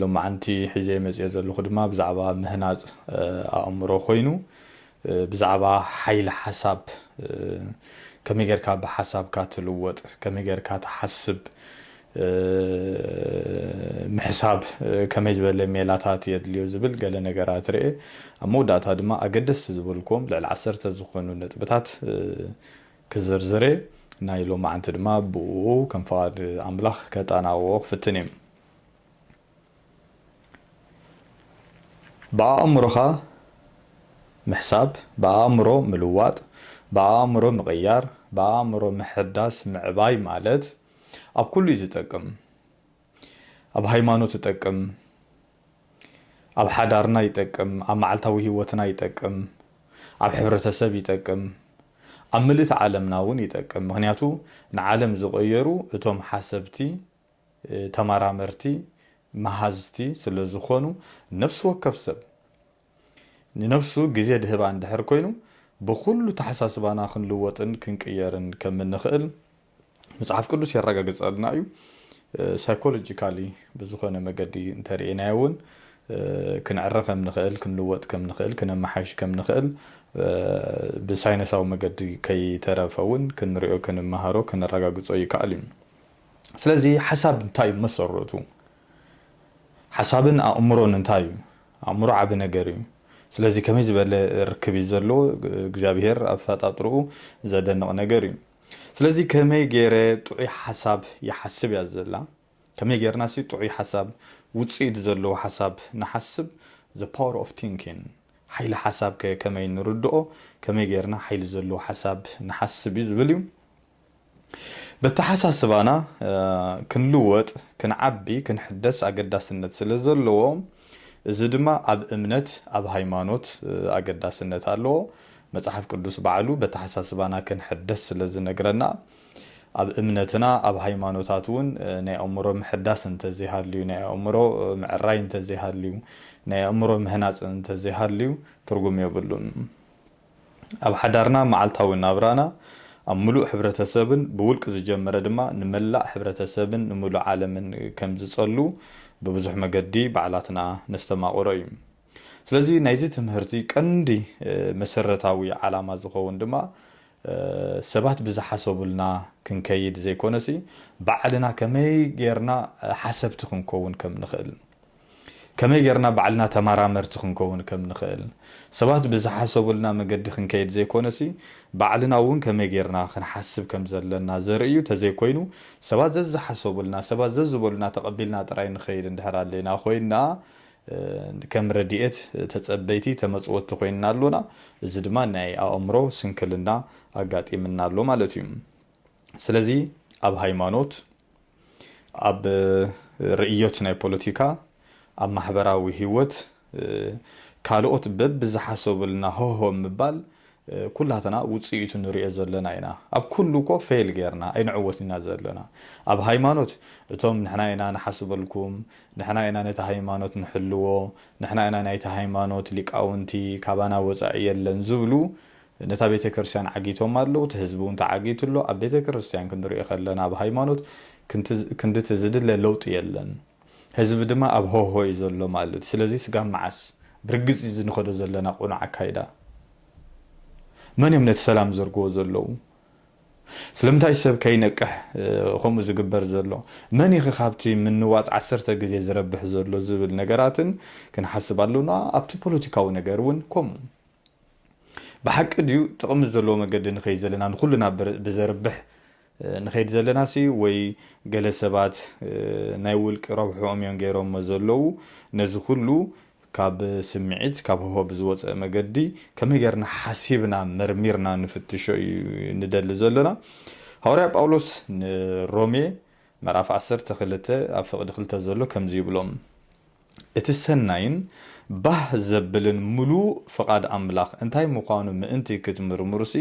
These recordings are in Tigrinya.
ሎማዓንቲ ሒዘ መፅየ ዘለኹ ድማ ብዛዕባ ምህናፅ ኣእምሮ ኮይኑ ብዛዕባ ሓይሊ ሓሳብ ከመይ ጌርካ ብሓሳብካ ትልወጥ ከመይ ጌርካ ትሓስብ ምሕሳብ ከመይ ዝበለ ሜላታት የድልዮ ዝብል ገለ ነገራት ርኤ ኣብ መወዳእታ ድማ ኣገደስቲ ዝበልክዎም ልዕሊ ዓሰርተ ዝኾኑ ነጥብታት ክዝርዝር እየ ናይ ሎማዓንቲ ድማ ብኡ ከም ፍቓድ ኣምላኽ ከጣናውኦ ክፍትን እየ ብኣእምሮኻ ምሕሳብ፣ ብኣእምሮ ምልዋጥ፣ ብኣእምሮ ምቕያር፣ ብኣእምሮ ምሕዳስ፣ ምዕባይ ማለት ኣብ ኩሉ እዩ ዝጠቅም። ኣብ ሃይማኖት ይጠቅም፣ ኣብ ሓዳርና ይጠቅም፣ ኣብ መዓልታዊ ህይወትና ይጠቅም፣ ኣብ ሕብረተሰብ ይጠቅም፣ ኣብ ምልእቲ ዓለምና እውን ይጠቅም። ምኽንያቱ ንዓለም ዝቐየሩ እቶም ሓሰብቲ ተመራመርቲ መሃዝቲ ስለ ዝኾኑ፣ ነፍሲ ወከፍ ሰብ ንነብሱ ግዜ ድህባ እንድሕር ኮይኑ፣ ብኹሉ ተሓሳስባና ክንልወጥን ክንቅየርን ከም እንኽእል መጽሓፍ ቅዱስ የረጋግጸልና እዩ። ሳይኮሎጂካሊ ብዝኾነ መገዲ እንተ ርኤናዮ እውን ክንዕረ ከም ንኽእል፣ ክንልወጥ ከም ንኽእል፣ ክነመሓይሽ ከም ንኽእል ብሳይነሳዊ መገዲ ከይተረፈ እውን ክንሪኦ፣ ክንመሃሮ፣ ከነረጋግጾ ይከኣል እዩ። ስለዚ ሓሳብ እንታይ እዩ መሰረቱ? ሓሳብን ኣእምሮን እንታይ እዩ? ኣእምሮ ዓቢ ነገር እዩ። ስለዚ ከመይ ዝበለ ርክብ እዩ ዘለዎ? እግዚኣብሄር ኣብ ኣፈጣጥርኡ ዘደንቕ ነገር እዩ። ስለዚ ከመይ ገይረ ጥዑይ ሓሳብ ይሓስብ እያ ዘላ። ከመይ ገይርና ሲ ጥዑይ ሓሳብ ውጽኢት ዘለዎ ሓሳብ ንሓስብ? the power of thinking ሓይሊ ሓሳብ ከ ከመይ ንርድኦ? ከመይ ገይርና ሓይሊ ዘለዎ ሓሳብ ንሓስብ እዩ ዝብል እዩ። በተሓሳስባና ክንልወጥ፣ ክንዓቢ፣ ክንሕደስ ኣገዳስነት ስለ ዘለዎ እዚ ድማ ኣብ እምነት ኣብ ሃይማኖት ኣገዳስነት ኣለዎ። መጽሓፍ ቅዱስ ባዕሉ በተሓሳስባና ክንሕደስ ስለ ዝነግረና ኣብ እምነትና ኣብ ሃይማኖታት እውን ናይ ኣእምሮ ምሕዳስ እንተዘይሃልዩ ናይ ኣእምሮ ምዕራይ እንተዘይሃልዩ ናይ ኣእምሮ ምህናጽ እንተዘይሃልዩ ትርጉም የብሉን። ኣብ ሓዳርና መዓልታዊ ናብራና ኣብ ምሉእ ሕብረተሰብን ብውልቅ ዝጀመረ ድማ ንመላእ ሕብረተሰብን ንምሉእ ዓለምን ከም ዝጸሉ ብብዙሕ መገዲ ባዕላትና ነስተማቕሮ እዩ። ስለዚ ናይዚ ትምህርቲ ቀንዲ መሰረታዊ ዓላማ ዝኸውን ድማ ሰባት ብዝሓሰቡልና ክንከይድ ዘይኮነሲ ባዕልና ከመይ ጌርና ሓሰብቲ ክንከውን ከም ንኽእል ከመይ ጌርና ባዕልና ተመራመርቲ ክንከውን ከም ንኽእል፣ ሰባት ብዝሓሰቡልና መገዲ ክንከይድ ዘይኮነሲ፣ ባዕልና እውን ከመይ ጌርና ክንሓስብ ከም ዘለና ዘርኢ እዩ፣ ተዘይኮይኑ ሰባት ዘዝሓሰቡልና፣ ሰባት ዘዝበሉና ተቐቢልና ጥራይ ንኸይድ እንድሕር ኣሊና ኮይንና፣ ከም ረድኤት ተጸበይቲ፣ ተመጽወቲ ኮይንና ኣሎና፣ እዚ ድማ ናይ ኣእምሮ ስንክልና ኣጋጢምና ኣሎ ማለት እዩ። ስለዚ ኣብ ሃይማኖት። ኣብ ርእዮት ናይ ፖለቲካ፣ ኣብ ማሕበራዊ ህይወት ካልኦት በብዝሓሰቡልና ሆሆ ምባል ኩላትና ውጽኢቱ ንርእዮ ዘለና ኢና። ኣብ ኩሉ እኮ ፌል ጌርና ኣይንዕወትን ኢና ዘለና። ኣብ ሃይማኖት እቶም ንሕና ኢና ንሓስበልኩም፣ ንሕና ኢና ነቲ ሃይማኖት ንሕልዎ፣ ንሕና ኢና ናይቲ ሃይማኖት ሊቃውንቲ ካባና ወጻኢ የለን ዝብሉ ነታ ቤተ ክርስቲያን ዓጊቶማ ኣለዉ እቲ ህዝቢ ውን ተዓጊቱ ኣሎ ኣብ ቤተ ክርስቲያን ክንሪኦ ከለና ኣብ ሃይማኖት ክንድቲ ዝድለ ለውጢ የለን ህዝቢ ድማ ኣብ ሆሆ እዩ ዘሎ ማለት እዩ ስለዚ ስጋብ መዓስ ብርግጽ እዚ ንኸዶ ዘለና ቅኑዕ ኣካይዳ መን እዮም ነቲ ሰላም ዝዘርግዎ ዘለዉ ስለምንታይ ሰብ ከይነቅሕ ከምኡ ዝግበር ዘሎ መን እዩ ካብቲ ምንዋጽ ዓሰርተ ግዜ ዝረብሕ ዘሎ ዝብል ነገራትን ክንሓስብ ኣሎና ኣብቲ ፖለቲካዊ ነገር ውን ከምኡ ብሓቂ ድዩ ጥቕሚ ዘለዎ መገዲ ንኸይድ ዘለና ንኹልና ብዘርብሕ ንኸይድ ዘለናሲ ወይ ገለ ሰባት ናይ ውልቂ ረብሕኦም እዮም ገይሮሞ ዘለዉ ነዚ ኩሉ ካብ ስምዒት ካብ ህሆ ብዝወፀ መገዲ ከመይ ገርና ሓሲብና መርሚርና ንፍትሾ እዩ ንደሊ ዘሎና ሃዋርያ ጳውሎስ ንሮሜ ምዕራፍ ዓሰርተ ክልተ ኣብ ፍቕዲ ክልተ ዘሎ ከምዚ ይብሎም እቲ ሰናይን ባህ ዘብልን ምሉእ ፍቓድ ኣምላኽ እንታይ ምዃኑ ምእንቲ ክትምርምሩሲ፣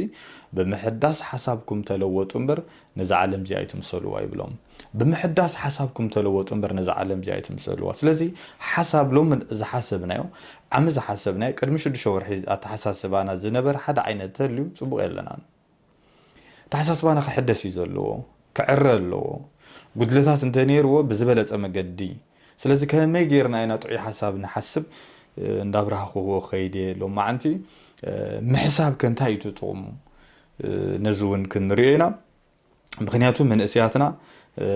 ብምሕዳስ ሓሳብኩም ተለወጡ እምበር፣ ነዛ ዓለም እዚኣ ኣይትምሰልዋ ይብሎም። ብምሕዳስ ሓሳብኩም ተለወጡ እምበር፣ ነዛ ዓለም እዚኣ ኣይትምሰልዋ። ስለዚ ሓሳብ ሎሚ ዝሓሰብናዮ፣ ዓሚ ዝሓሰብናዮ፣ ቅድሚ ሽዱሽተ ወርሒ ኣተሓሳስባና ዝነበረ ሓደ ዓይነት ተልዩ ጽቡቕ የለናን። ኣተሓሳስባና ክሕደስ እዩ ዘለዎ፣ ክዕረ ኣለዎ፣ ጉድለታት እንተነይርዎ ብዝበለፀ መገዲ፣ ስለዚ ከመይ ገይርና ኢና ጥዑይ ሓሳብ ንሓስብ እንዳብራህኹዎ ክኸይድ እየ፣ ሎማዓንቲ ምሕሳብከ እንታይ እዩ እቲ ጥቕሙ ነዚ እውን ክንሪኦ ኢና። ምኽንያቱ መንእሰያትና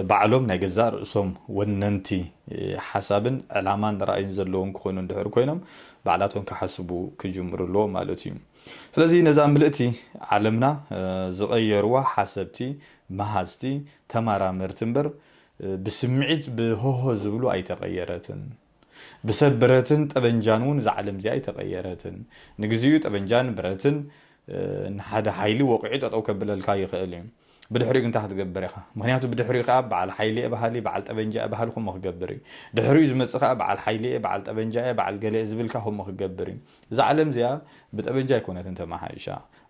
ባዕሎም ናይ ገዛእ ርእሶም ወነንቲ ሓሳብን ዕላማን ራእይን ዘለዎም ክኾኑ እንድሕር ኮይኖም ባዕላቶም ክሓስቡ ክጅምሩ ኣለዎም ማለት እዩ። ስለዚ ነዛ ምልእቲ ዓለምና ዝቐየርዋ ሓሰብቲ፣ መሃዝቲ፣ ተመራመርቲ እምበር ብስምዒት ብሆሆ ዝብሉ ኣይተቐየረትን። ብሰብ ብረትን ጠበንጃን እውን እዛ ዓለም እዚኣ ኣይተቐየረትን። ንግዚኡ ጠበንጃን ብረትን ንሓደ ሓይሊ ወቒዑ ጠጠው ከብለልካ ይኽእል እዩ። ብድሕሪኡ ግን እንታይ ክትገብር ኢኻ? ምኽንያቱ ብድሕሪኡ ከኣ በዓል ሓይሊ'የ በሃሊ፣ በዓል ጠበንጃ'የ በሃሊ ከምኡ ክገብር እዩ። ድሕሪኡ ዝመጽእ ከኣ በዓል ሓይሊ'የ፣ በዓል ጠበንጃ'የ፣ በዓል ገለ'የ ዝብል ከኣ ከምኡ ክገብር እዩ። እዛ ዓለም እዚኣ ብጠበንጃ ኣይኮነትን ተመሓይሻ።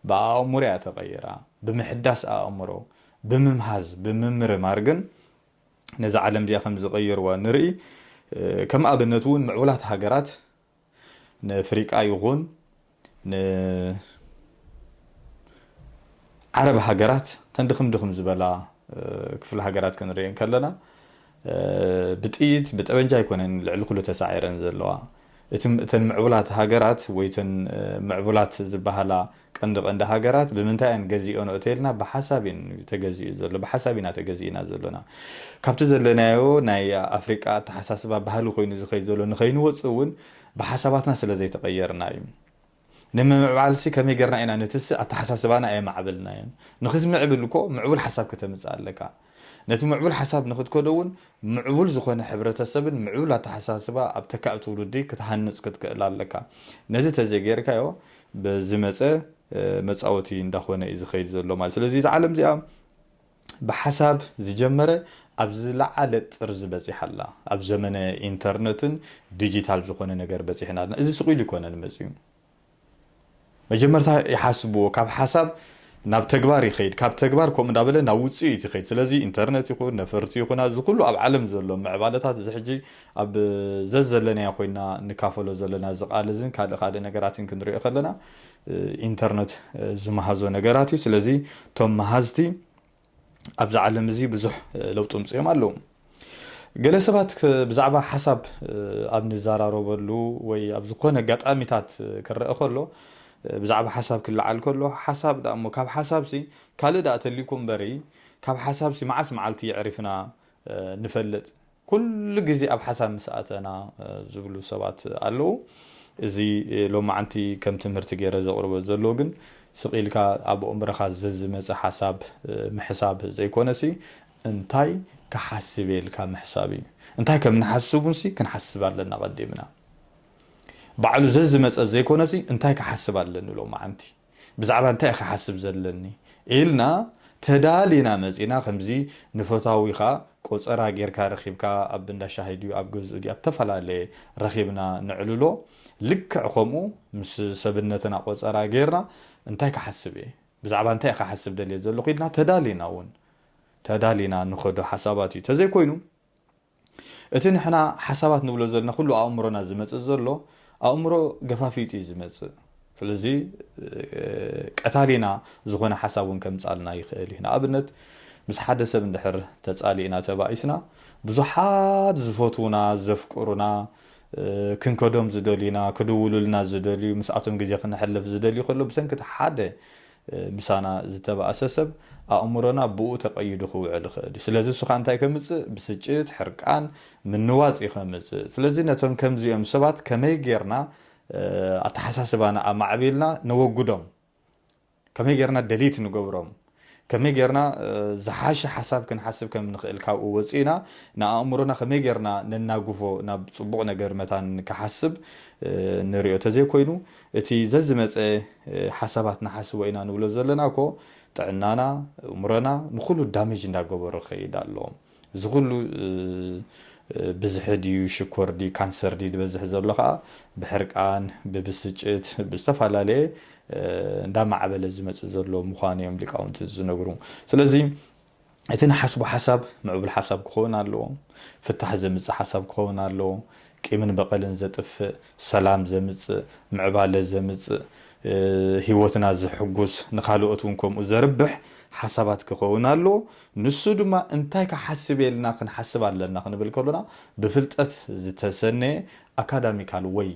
ብኣእምሮ እያ ተቐይራ። ብምሕዳስ ኣእምሮ፣ ብምምሃዝ፣ ብምምርማር ግን፣ ነዛ ዓለም እዚኣ ከም ዝቐየርዋ ንርኢ። ከም ኣብነት እውን ምዕቡላት ሃገራት ንኣፍሪቃ ይኹን ንዓረብ ሃገራት እተን ድኽም ድኽም ዝበላ ክፍለ ሃገራት ክንርኢ ከለና ብጥይት ብጠበንጃ ኣይኮነን ልዕሊ ኩሉ ተሳዒረን ዘለዋ እቲ እተን ምዕቡላት ሃገራት ወይ እተን ምዕቡላት ዝበሃላ ቀንዲ ቀንዲ ሃገራት ብምንታይ እየን ገዚኦንኦ ተይልና ብሓሳብ እዩን ተገዚኡ ዘሎ ብሓሳብ ኢና ተገዚእና ዘሎና ካብቲ ዘለናዮ ናይ ኣፍሪቃ ኣተሓሳስባ ባህሊ ኮይኑ ዝኸይድ ዘሎ ንኸይንወጽእ እውን ብሓሳባትና ስለ ዘይተቐየርና እዩ ንምምዕባልሲ ከመይ ጌርና ኢና ንትስእ ኣተሓሳስባና ኣየማዕበልናዮን። ንኽትምዕብል እኮ ምዕቡል ሓሳብ ከተምጽእ ኣለካ። ነቲ ምዕቡል ሓሳብ ንኽትከዶ እውን ምዕቡል ዝኾነ ሕብረተሰብን ምዕቡል ኣተሓሳስባ ኣብ ተካኢ ትውልዲ ክትሃንጽ ክትክእል ኣለካ። ነዚ ተዘይጌርካዮ ብዝመጸ መጻወቲ እንዳኾነ እዩ ዝኸይድ ዘሎ ማለት እዩ። ስለዚ እዛ ዓለም እዚኣ። ብሓሳብ ዝጀመረ ኣብ ዝለዓለ ጥርዚ በጺሓ ኣላ። ኣብ ዘመነ ኢንተርነትን ዲጂታል ዝኾነ ነገር በጺሕና ኣለና። እዚ ስቕ ኢሉ ኣይኮነን መጺኡ። መጀመርታ ይሓስብዎ፣ ካብ ሓሳብ ናብ ተግባር ይኸይድ፣ ካብ ተግባር ከምኡ እንዳበለ ናብ ውጽኢት ይኸይድ። ስለዚ ኢንተርነት ይኹን ነፈርቲ ይኹና እዚ ኩሉ ኣብ ዓለም ዘሎ ምዕባለታት እዚ ሕጂ ኣብ ዘዘለናዮ ኮይንና ንካፈሎ ዘለና እዚ ቃል እዝን ካልእ ካልእ ነገራትን ክንሪኦ ከለና ኢንተርነት ዝመሃዞ ነገራት እዩ ስለዚ እቶም መሃዝቲ ኣብዚ ዓለም እዚ ብዙሕ ለውጢ ምፅኦም ኣለዉ ገለ ሰባት ብዛዕባ ሓሳብ ኣብ ንዘራረበሉ ወይ ኣብ ዝኾነ ኣጋጣሚታት ክረአ ከሎ ብዛዕባ ሓሳብ ክለዓል ከሎ ሓሳብ ዳ እሞ ካብ ሓሳብሲ ካልእ ዳኣ ተልዩኩም በሪ ካብ ሓሳብሲ መዓስ መዓልቲ የዕሪፍና ንፈልጥ ኩሉ ግዜ ኣብ ሓሳብ ምስ ኣተና ዝብሉ ሰባት ኣለዉ። እዚ ሎማዓንቲ ከም ትምህርቲ ገይረ ዘቕርቦ ዘሎዉ ግን ስቕ ኢልካ ኣብ ኣእምሮኻ ዘዝመጸ ሓሳብ ምሕሳብ ዘይኮነሲ እንታይ ክሓስብ'የ ኢልካ ምሕሳብ እዩ። እንታይ ከም ንሓስብ እውንሲ ክንሓስብ ኣለና ቀዲምና። ባዕሉ ዘዝመጸ ዘይኮነሲ እንታይ ክሓስብ ኣለኒ ሎማዓንቲ። ብዛዕባ እንታይ እየ ክሓስብ ዘለኒ ኢልና ተዳሊና መጺና ከምዚ ንፈታዊኻ ቆጸራ ጌርካ ረኺብካ ኣብ እንዳ ሻሂ ድዩ ኣብ ገዝኡ ድዩ ኣብ እተፈላለየ ረኺብና ነዕልሎ ልክዕ ከምኡ ምስ ሰብነትና ቆጸራ ጌርና እንታይ ክሓስብ እየ ብዛዕባ እንታይ እየ ክሓስብ ደልየ ዘለኹ ኢልና ተዳሊና እውን ተዳሊና ንኸዶ ሓሳባት እዩ ተዘይኮይኑ እቲ ንሕና ሓሳባት ንብሎ ዘለና ኩሉ ኣእምሮና ዝመጽእ ዘሎ ኣእምሮ ገፋፊጡ እዩ ዝመጽእ ስለዚ ቀታሊና ዝኾነ ሓሳብ እውን ከምጻልና ይኽእል እዩ ንኣብነት ምስ ሓደ ሰብ እንድሕር ተጻሊእና ተባኢስና ብዙሓት ዝፈትዉና ዘፍቅሩና ክንከዶም ዝደልዩና ክድውሉልና ዝደልዩ ምስኣቶም ግዜ ክነሕልፍ ዝደልዩ ከሎ ብሰንኪ እቲ ሓደ ምሳና ዝተባእሰ ሰብ ኣእምሮና ብኡ ተቐይዱ ክውዕል ይኽእል እዩ። ስለዚ እሱ ከኣ እንታይ ከምጽእ ብስጭት፣ ሕርቃን፣ ምንዋጽ እዩ ከምጽእ። ስለዚ ነቶም ከምዚኦም ሰባት ከመይ ጌርና ኣተሓሳስባና ኣማዕቢልና ነወግዶም? ከመይ ጌርና ደሊት ንገብሮም? ከመይ ጌርና ዝሓሸ ሓሳብ ክንሓስብ ከም ንኽእል ካብኡ ወጺእና ንኣእምሮና ከመይ ጌርና ነናግፎ ናብ ጽቡቕ ነገር መታን ክሓስብ ንሪኦ ተዘይኮይኑ እቲ ዘዝመጸ ሓሳባት ንሓስቦ ኢና ንብሎ ዘለና እኮ ጥዕናና እእምሮና ንኩሉ ዳመጅ እንዳገበሮ ክከይድ ኣሎ እዚ ኩሉ ብዝሒ ድዩ ሽኮር ድዩ ካንሰር ድዩ ድበዝሕ ዘሎ ከኣ ብሕርቃን ብብስጭት ብዝተፋላለየ እንዳማዕበለ ዝመጽእ ዘሎ ምኳኑ እዮም ሊቃውንቲ ዝነግሩ ስለዚ እቲ ንሓስቦ ሓሳብ ምዕቡል ሓሳብ ክኸውን ኣለዎ፣ ፍታሕ ዘምጽእ ሓሳብ ክኸውን ኣለዎ፣ ቂምን በቐልን ዘጥፍእ፣ ሰላም ዘምጽእ፣ ምዕባለ ዘምጽእ፣ ህይወትና ዘሕጉስ፣ ንኻልኦት እውን ከምኡ ዘርብሕ ሓሳባት ክኸውን ኣለዎ። ንሱ ድማ እንታይ ክሓስብ ኢልና ክንሓስብ ኣለና ክንብል ከሎና ብፍልጠት ዝተሰነየ ኣካዳሚካል ወይ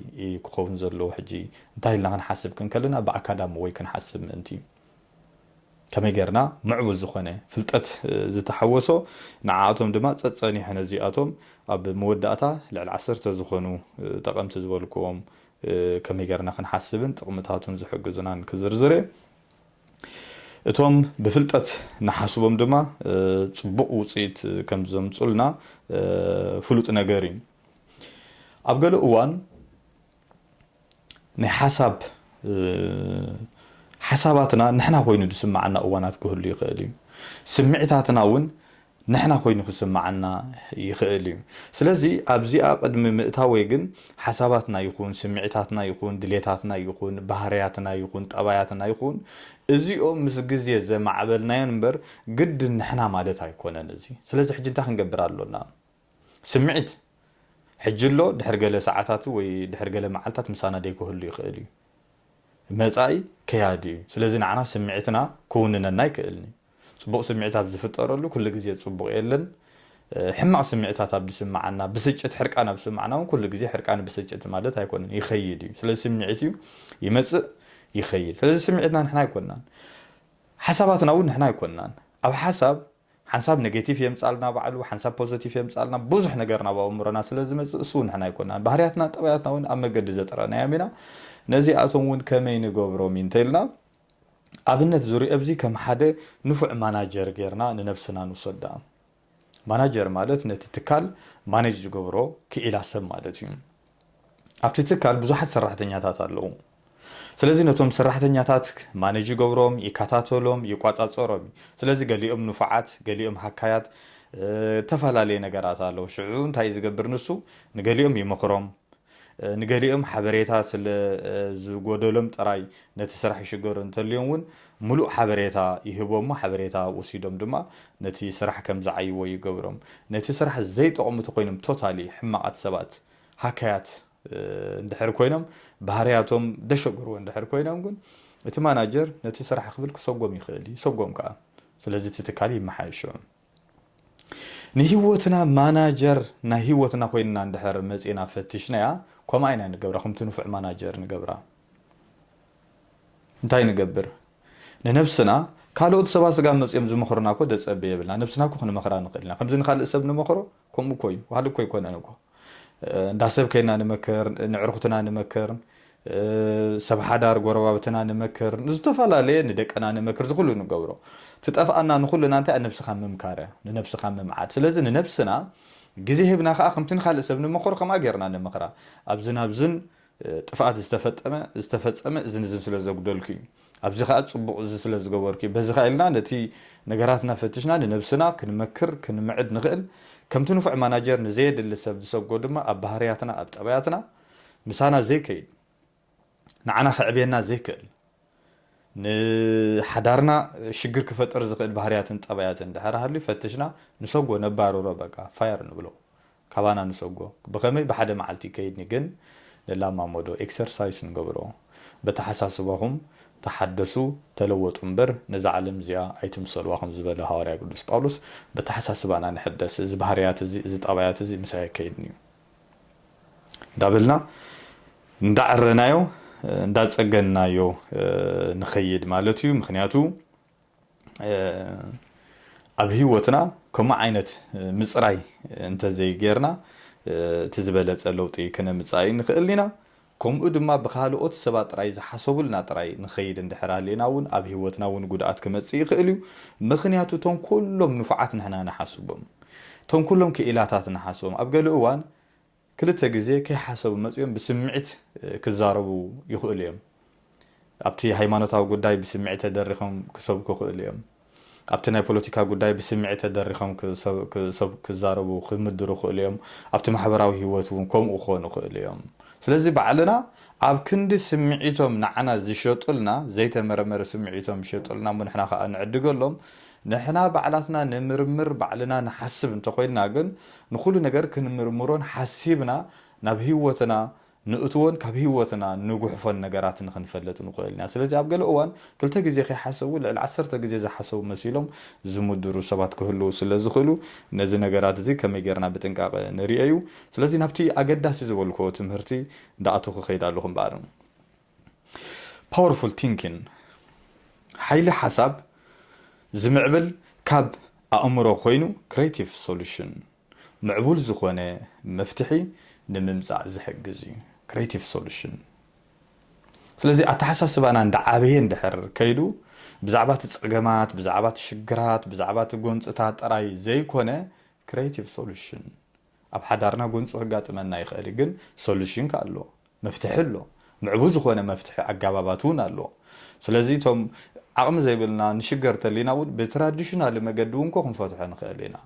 ክኸውን ዘለዎ ሕጂ እንታይ ኢልና ክንሓስብ ክንከለና ብኣካዳሚ ወይ ክንሓስብ ምእንቲ እዩ። ከመይ ጌርና ምዕቡል ዝኾነ ፍልጠት ዝተሓወሶ ንዓኣቶም ድማ ጸጸኒሑ ነዚኣቶም ኣብ መወዳእታ ልዕሊ ዓሰርተ ዝኾኑ ጠቐምቲ ዝበልኩዎም ከመይ ጌርና ክንሓስብን ጥቕምታቱን ዝሕግዙናን ክዝርዝር እየ። እቶም ብፍልጠት ንሓስቦም ድማ ጽቡቕ ውጽኢት ከም ዘምጹልና ፍሉጥ ነገር እዩ። ኣብ ገለ እዋን ናይ ሓሳብ ሓሳባትና ንሕና ኮይኑ ዝስምዓና እዋናት ክህሉ ይኽእል እዩ። ስምዒታትና እውን ንሕና ኮይኑ ክስምዓና ይኽእል እዩ። ስለዚ ኣብዚኣ ቅድሚ ምእታወይ ግን ሓሳባትና ይኹን ስምዒታትና ይኹን ድሌታትና ይኹን ባህርያትና ይኹን ጠባያትና ይኹን እዚኦም ምስ ግዜ ዘማዕበልናዮን እምበር ግድን ንሕና ማለት ኣይኮነን እዚ። ስለዚ ሕጂ እንታይ ክንገብር ኣሎና? ስምዒት ሕጂ ኣሎ ድሕሪ ገለ ሰዓታት ወይ ድሕሪ ገለ መዓልታት ምሳና ደይክህሉ ይኽእል እዩ። መጻኢ ከያዲ እዩ ስለዚ ንዓና ስምዒትና ክውንነና ኣይክእልን'ዩ። ጽቡቕ ስምዒት ኣብ ዝፍጠረሉ ኩሉ ግዜ ጽቡቕ የለን። ሕማቕ ስምዒታት ኣብ ዝስምዓና ብስጭት ሕርቃን ኣብ ዝስምዓና ውን ኩሉ ግዜ ሕርቃን ብስጭት ማለት ኣይኮነን ይኸይድ እዩ። ስለዚ ስምዒት እዩ ይመጽእ ይኸይድ ስለዚ ስምዒትና ንሕና ኣይኮናን። ሓሳባትና ውን ንሕና ኣይኮናን። ኣብ ሓሳብ ሓንሳብ ነጌቲቭ የምጻልና ባዕሉ ሓንሳብ ፖዘቲቭ የምጻልና ብዙሕ ነገር ናብ ኣእምሮና ስለ ዝመጽእ እሱ ውን ንሕና ኣይኮናን ባህርያትና ጠባያትና ውን ኣብ መገዲ ዘጥረናዮም ኢና ነዚኣቶም ውን ከመይ ንገብሮም ኢንተኢልና ኣብነት ዙርየ እብዚ ከም ሓደ ንፉዕ ማናጀር ጌርና ንነብስና ንውሰዳ ማናጀር ማለት ነቲ ትካል ማነጅ ዝገብሮ ክኢላ ሰብ ማለት እዩ። ኣብቲ ትካል ብዙሓት ሰራሕተኛታት ኣለዉ። ስለዚ ነቶም ሰራሕተኛታት ማነጅ ይገብሮም፣ ይከታተሎም፣ ይቋጻጸሮም እዩ። ስለዚ ገሊኦም ንፉዓት፣ ገሊኦም ሃካያት፣ እተፈላለየ ነገራት ኣለዉ። ሽዑ እንታይ እዩ ዝገብር ንሱ? ንገሊኦም ይመኽሮም፣ ንገሊኦም ሓበሬታ ስለ ዝጎደሎም ጥራይ ነቲ ስራሕ ይሽገሩ፣ እንተልዮም እውን ምሉእ ሓበሬታ ይህቦም እሞ ሓበሬታ ወሲዶም ድማ ነቲ ስራሕ ከም ዝዓይዎ ይገብሮም። ነቲ ስራሕ ዘይጠቕሙ ተኾይኖም ቶታሊ ሕማቓት ሰባት ሃካያት እንድሕር ኮይኖም ባህርያቶም ደሸገርዎ እንድሕር ኮይኖም ግን እቲ ማናጀር ነቲ ስራሕ ክብል ክሰጎም ይኽእል ይሰጎም ከኣ ስለዚ እቲ ትካል ይመሓየሾ። ንህይወትና ማናጀር ናይ ህይወትና ኮይንና እንድሕር መጺእና ፈቲሽናያ ከምኣ ኢና ንገብራ ከምቲ ንፉዕ ማናጀር ንገብራ። እንታይ ንገብር ንነብስና ካልኦት ሰባ ስጋ መጺኦም ዝመኽሩና እኮ ዘጸብብ የብልና ነብስና እኮ ክንመኽራ ንኽእል ኢና ከምዚ ንኻልእ ሰብ ንመኽሮ ከምኡ እኮ እዩ ዋሕዲ እኮ ኣይኮነን እኮ እንዳ ሰብ ከይድና ንመክር ንዕርኩትና ንመክር ሰብ ሓዳር ጎረባብትና ንመክር ንዝተፈላለየ ንደቅና ንመክር ዝኩሉ ንገብሮ ትጠፍኣና ንኩልና እንታይ ነብስካ ምምካረ ንነብስካ ምምዓድ ስለዚ ንነብስና ግዜ ሂብና ከኣ ከምቲ ንካልእ ሰብ ንመክሮ ከምኣ ጌርና ንመክራ ኣብዝን ኣብዝን ጥፍኣት ዝተፈጠመ ዝተፈጸመ እዝን እዝን ስለ ዘጉደልኩ እዩ። ኣብዚ ከኣ ጽቡቕ እዚ ስለ ዝገበርኩ እዩ። በዚ ከኣ ኢልና ነቲ ነገራት እናፈትሽና ንነብስና ክንመክር ክንምዕድ ንኽእል። ከምቲ ንፉዕ ማናጀር ንዘየድሊ ሰብ ዝሰጎ ድማ ኣብ ባህርያትና ኣብ ጠባያትና ምሳና ዘይከይድ ንዓና ከዕብየና ዘይክእል ንሓዳርና ሽግር ክፈጥር ዝኽእል ባህርያትን ጠባያትን ድሕሪ ሃልዩ ፈትሽና ንሰጎ ነባርሮ በቃ ፋየር ንብሎ። ካባና ንሰጎ ብከመይ ብሓደ መዓልቲ ይከይድኒ ግን ንላማመዶ ኤክሰርሳይስ ንገብሮ በተሓሳስባኹም ተሓደሱ ተለወጡ እምበር ነዛ ዓለም እዚኣ ኣይትምሰልዋ ከም ዝበለ ሃዋርያ ቅዱስ ጳውሎስ በተሓሳስባና ንሕደስ እዚ ባህርያት እዚ እዚ ጠባያት እዚ ምሳይ ኣይከይድን እዩ እንዳበልና እንዳዐረናዮ እንዳጸገንናዮ ንኸይድ ማለት እዩ ምክንያቱ ኣብ ህይወትና ከምኡ ዓይነት ምፅራይ እንተዘይገይርና እቲ ዝበለፀ ለውጢ ክነምፅእ ኣይንኽእልን ኢና። ከምኡ ድማ ብኻልኦት ሰባት ጥራይ ዝሓሰቡልና ጥራይ ንኸይድ እንድሕር ሃሊና እውን ኣብ ህይወትና እውን ጉድኣት ክመፅእ ይኽእል እዩ። ምኽንያቱ እቶም ኩሎም ንፉዓት ንሕና ንሓስቦም፣ እቶም ኩሎም ክኢላታት ንሓስቦም ኣብ ገለ እዋን ክልተ ግዜ ከይሓሰቡ መጺኦም ብስምዒት ክዛረቡ ይኽእሉ እዮም። ኣብቲ ሃይማኖታዊ ጉዳይ ብስምዒት ተደሪኾም ክሰብኩ ይኽእሉ እዮም። ኣብቲ ናይ ፖለቲካ ጉዳይ ብስምዒት ተደሪኾም ክሰብኩ፣ ክዛረቡ፣ ክምድሩ ይኽእሉ እዮም። ኣብቲ ማሕበራዊ ህይወት እውን ከምኡ ክኾኑ ይኽእሉ እዮም። ስለዚ ባዕልና ኣብ ክንዲ ስምዒቶም ንዓና ዝሸጡልና፣ ዘይተመርመረ ስምዒቶም ዝሸጡልና እሞ ንሕና ከኣ ንዕድገሎም፣ ንሕና ባዕላትና ንምርምር ባዕልና ንሓስብ እንተኾይንና ግን ንኹሉ ነገር ክንምርምሮን ሓሲብና ናብ ህይወትና ንእትዎን ካብ ህይወትና ንጉሕፎን ነገራት ንኽንፈልጥ ንኽእል ኢና። ስለዚ ኣብ ገለ እዋን ክልተ ግዜ ከይሓሰቡ ልዕሊ ዓሰርተ ግዜ ዝሓሰቡ መሲሎም ዝምድሩ ሰባት ክህልዉ ስለ ዝኽእሉ ነዚ ነገራት እዚ ከመይ ጌርና ብጥንቃቐ ንርእዮ እዩ። ስለዚ ናብቲ ኣገዳሲ ዝበልክዎ ትምህርቲ እንዳኣተኹ እኸይድ ኣለኹ እምበኣር። Powerful Thinking ሓይሊ ሓሳብ ዝምዕብል ካብ ኣእምሮ ኮይኑ Creative Solution ምዕቡል ዝኾነ መፍትሒ ንምምጻእ ዝሕግዝ እዩ። Creative Solution ስለዚ ኣተሓሳስባና እንዳዓበየ እንድሕር ከይዱ ብዛዕባ እቲ ጸገማት፣ ብዛዕባ እቲ ሽግራት፣ ብዛዕባ እቲ ጎንጽታት ጥራይ ዘይኮነ Creative Solution ኣብ ሓዳርና ጎንጹ ከጋጥመና ይኽእል ግን ሶሉሽን ከኣ ኣሎ መፍትሒ ኣሎ ምዕቡ ዝኾነ መፍትሒ ኣጋባባት ውን ኣሎ ስለዚ እቶም ዓቕሚ ዘይብልና ንሽገር ተሊና ውን ብትራዲሽናሊ መገዲ ውን እኮ ክንፈትሖ ንኽእል ኢና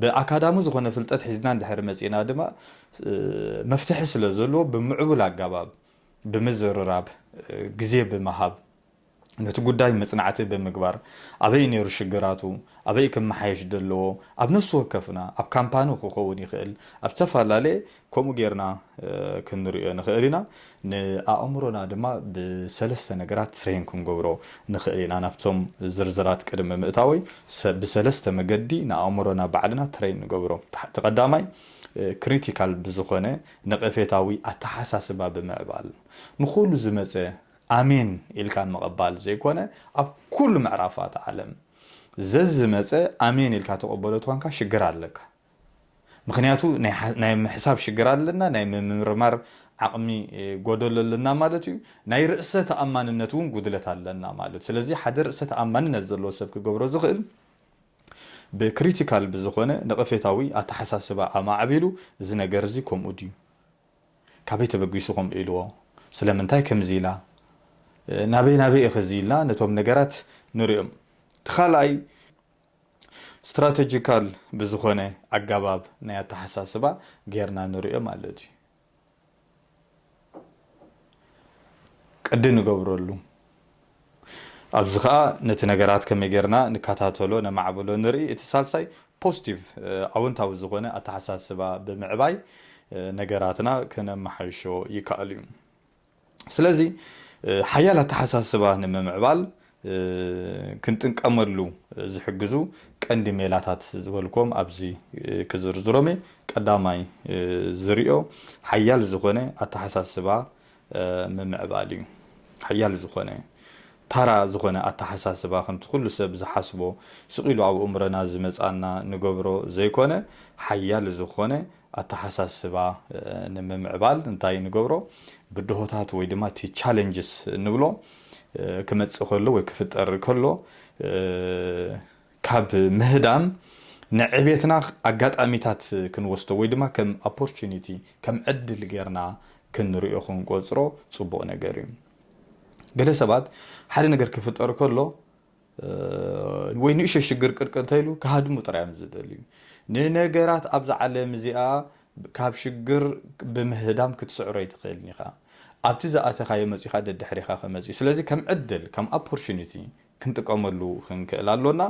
ብኣካዳሚ ዝኾነ ፍልጠት ሒዝና እንድሕሪ መጺእና ድማ መፍትሒ ስለ ዘለዎ ብምዕቡል ኣጋባብ ብምዝርራብ ግዜ ብምሃብ ነቲ ጉዳይ መጽናዕቲ ብምግባር ኣበይ ነይሩ ሽግራቱ፣ ኣበይ ክመሓየሽ ዘለዎ ኣብ ነፍሲ ወከፍና ኣብ ካምፓኒ ክኸውን ይኽእል ኣብ ዝተፈላለየ ከምኡ ጌርና ክንርእዮ ንኽእል ኢና። ንኣእምሮና ድማ ብሰለስተ ነገራት ትሬን ክንገብሮ ንኽእል ኢና። ናብቶም ዝርዝራት ቅድሚ ምእታወይ ብሰለስተ መገዲ ንኣእምሮና ባዕልና ትሬን ንገብሮ። እቲ ቀዳማይ ክሪቲካል ብዝኾነ ነቐፌታዊ ኣተሓሳስባ ብምዕባል ንኹሉ ዝመጸ ኣሜን ኢልካ ምቕባል ዘይኮነ ኣብ ኩሉ ምዕራፋት ዓለም ዘዝመጸ ኣሜን ኢልካ ትቕበሎ ተኾንካ ሽግር ኣለካ ምኽንያቱ ናይ ምሕሳብ ሽግር ኣለና ናይ ምምርማር ዓቕሚ ጎደሎ ኣለና ማለት እዩ ናይ ርእሰ ተኣማንነት እውን ጉድለት ኣለና ማለት ስለዚ ሓደ ርእሰ ተኣማንነት ዘለዎ ሰብ ክገብሮ ዝኽእል ብክሪቲካል ብዝኾነ ነቐፌታዊ ኣተሓሳስባ ኣማዕቢሉ እዚ ነገር እዚ ከምኡ ድዩ ካበይ ተበጊሱ ከምኡ ኢልዎ? ስለምንታይ ከምዚ ኢላ? ናበይ ናበይ ኢኺ እዚ ኢልና ነቶም ነገራት ንሪኦም። እቲ ካልኣይ Strategical ብዝኾነ ኣጋባብ ናይ ኣተሓሳስባ ጌርና ንሪኦ ማለት እዩ። ቅዲ ንገብረሉ። ኣብዚ ከኣ ነቲ ነገራት ከመይ ጌርና ንከታተሎ ነማዕብሎ ንርኢ፣ እቲ ሳልሳይ ፖስቲቭ ኣወንታዊ ዝኾነ ኣተሓሳስባ ብምዕባይ ነገራትና ከነመሓይሾ ይከኣል እዩ። ስለዚ ሓያል ኣተሓሳስባ ንምምዕባል ክንጥንቀመሉ ዝሕግዙ ቀንዲ ሜላታት ዝበልክዎም ኣብዚ ክዝርዝሮም እየ። ቀዳማይ ዝርኦ ሓያል ዝኾነ ኣተሓሳስባ ምምዕባል እዩ። ሓያል ዝኾነ፣ ታራ ዝኾነ ኣተሓሳስባ ከምቲ ኩሉ ሰብ ዝሓስቦ ስቕ ኢሉ ኣብ እእምሮና ዝመጽኣና ንገብሮ ዘይኮነ ሓያል ዝኾነ ኣተሓሳስባ ንምምዕባል እንታይ ንገብሮ ብድሆታት ወይ ድማ እቲ ቻለንጅስ እንብሎ ክመጽእ ከሎ ወይ ክፍጠር ከሎ ካብ ምህዳም ንዕቤትና ኣጋጣሚታት ክንወስዶ ወይ ድማ ከም ኣፖርቹኒቲ ከም ዕድል ጌርና ክንሪኦ ክንቆጽሮ ጽቡቕ ነገር እዩ። ገለ ሰባት ሓደ ነገር ክፍጠር ከሎ ወይ ንእሽቶ ሽግር ቅርቅ እንተኢሉ ክሃድሙ ጥራይ እዮም ዝደልዩ። ንነገራት ኣብዛ ዓለም እዚኣ ካብ ሽግር ብምህዳም ክትስዕሮ ኣይትኽእልን ኢኻ። ኣብቲ ዝኣተኻዮ መጺኻ ደድሕሪኻ ክመጽእ እዩ። ስለዚ ከም ዕድል ከም ኣፖርቹኒቲ ክንጥቀመሉ ክንክእል ኣሎና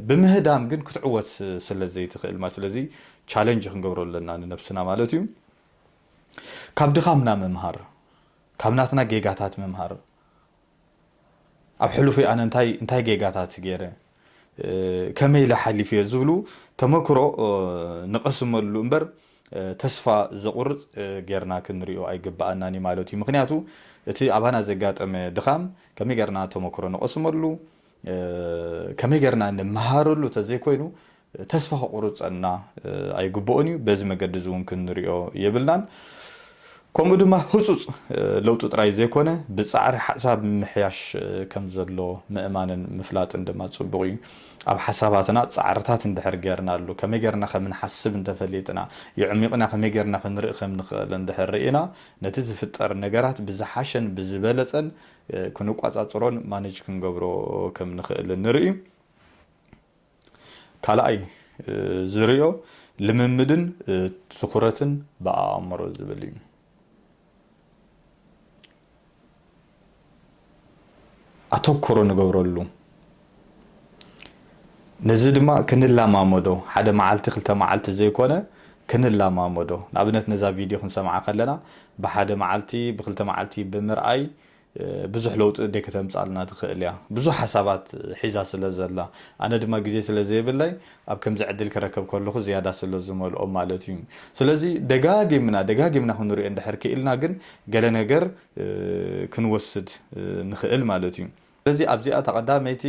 ብምህዳም ግን ክትዕወት ስለ ዘይትኽእል ማ ስለዚ ቻለንጅ ክንገብሮ ኣለና ንነብስና ማለት እዩ ካብ ድኻምና ምምሃር ካብ ናትና ጌጋታት ምምሃር ኣብ ሕሉፍይ ኣነ እንታይ እንታይ ጌጋታት ገይረ ከመይ ኢለ ሓሊፈዮ ዝብሉ ተመክሮ ንቐስመሉ እምበር ተስፋ ዘቑርፅ ገይርና ክንሪኦ ኣይግበኣናን እዩ ማለት እዩ። ምኽንያቱ እቲ ኣባና ዘጋጠመ ድኻም ከመይ ገይርና ተመክሮ ንቐስመሉ፣ ከመይ ገይርና ንመሃረሉ ተዘይኮይኑ ተስፋ ከቑርጸና ኣይግብኦን እዩ። በዚ መገዲ እዚ እውን ክንሪኦ የብልናን። ከምኡ ድማ ህጹጽ ለውጢ ጥራይ ዘይኮነ ብጻዕሪ ሓሳብ ምምሕያሽ ከም ዘሎ ምእማንን ምፍላጥን ድማ ጽቡቕ እዩ። ኣብ ሓሳባትና ጻዕርታት እንድሕር ጌርናሉ፣ ከመይ ጌርና ከም እንሓስብ እንተ ፈሊጥና፣ የዕሚቕና ከመይ ጌርና ክንርኢ ከም ንኽእል እንድሕር ርኢና፣ ነቲ ዝፍጠር ነገራት ብዝሓሸን ብዝበለጸን ክንቋጻጽሮን ማነጅ ክንገብሮ ከም ንኽእል ንርኢ። ካልኣይ ዝርእዮ ልምምድን ትኹረትን ብኣእምሮ ዝብል እዩ። ኣተኩሮ ንገብረሉ ነዚ ድማ ክንላማመዶ ሓደ መዓልቲ ክልተ መዓልቲ ዘይኮነ ክንላማመዶ ንኣብነት ነዛ ቪድዮ ክንሰምዓ ከለና ብሓደ መዓልቲ ብክልተ መዓልቲ ብምርኣይ ብዙሕ ለውጢ ደይ ከተምጻልና ትክእል እያ ብዙሕ ሓሳባት ሒዛ ስለ ዘላ ኣነ ድማ ግዜ ስለ ዘይብለይ ኣብ ከምዚ ዕድል ክረከብ ከለኩ ዝያዳ ስለ ዝመልኦ ማለት እዩ ስለዚ ደጋጊምና ደጋጊምና ክንሪኦ እንድሕር ኪኢልና ግን ገለ ነገር ክንወስድ ንክእል ማለት እዩ ስለዚ ኣብዚኣ እታ ቀዳመይቲ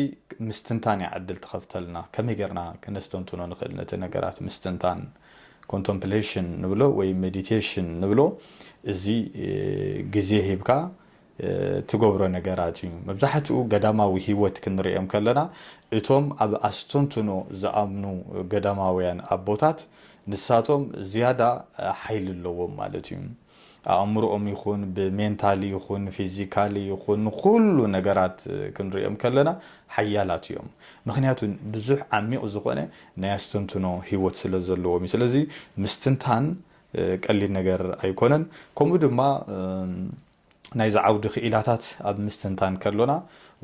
ምስትንታን እያ ዕድል ትከፍተልና ከመይ ጌርና ክነስተንትኖ ንክእል ነቲ ነገራት ምስትንታን ኮንቶምፕሌሽን ንብሎ ወይ ሜዲቴሽን ንብሎ እዚ ግዜ ሂብካ ትገብሮ ነገራት እዩ። መብዛሕትኡ ገዳማዊ ህይወት ክንርእዮም ከለና እቶም ኣብ ኣስተንትኖ ዝኣምኑ ገዳማውያን ኣቦታት ንሳቶም ዝያዳ ሓይሊ ኣለዎም ማለት እዩ። ኣእምርኦም ይኹን ብሜንታሊ ይኹን ፊዚካሊ ይኹን ንኹሉ ነገራት ክንርእዮም ከለና ሓያላት እዮም ምኽንያቱ ብዙሕ ዓሚቕ ዝኾነ ናይ ኣስተንትኖ ህይወት ስለ ዘለዎም እዩ ስለዚ ምስትንታን ቀሊል ነገር ኣይኮነን ከምኡ ድማ ናይዚ ዓውዲ ክኢላታት ኣብ ምስትንታን ከሎና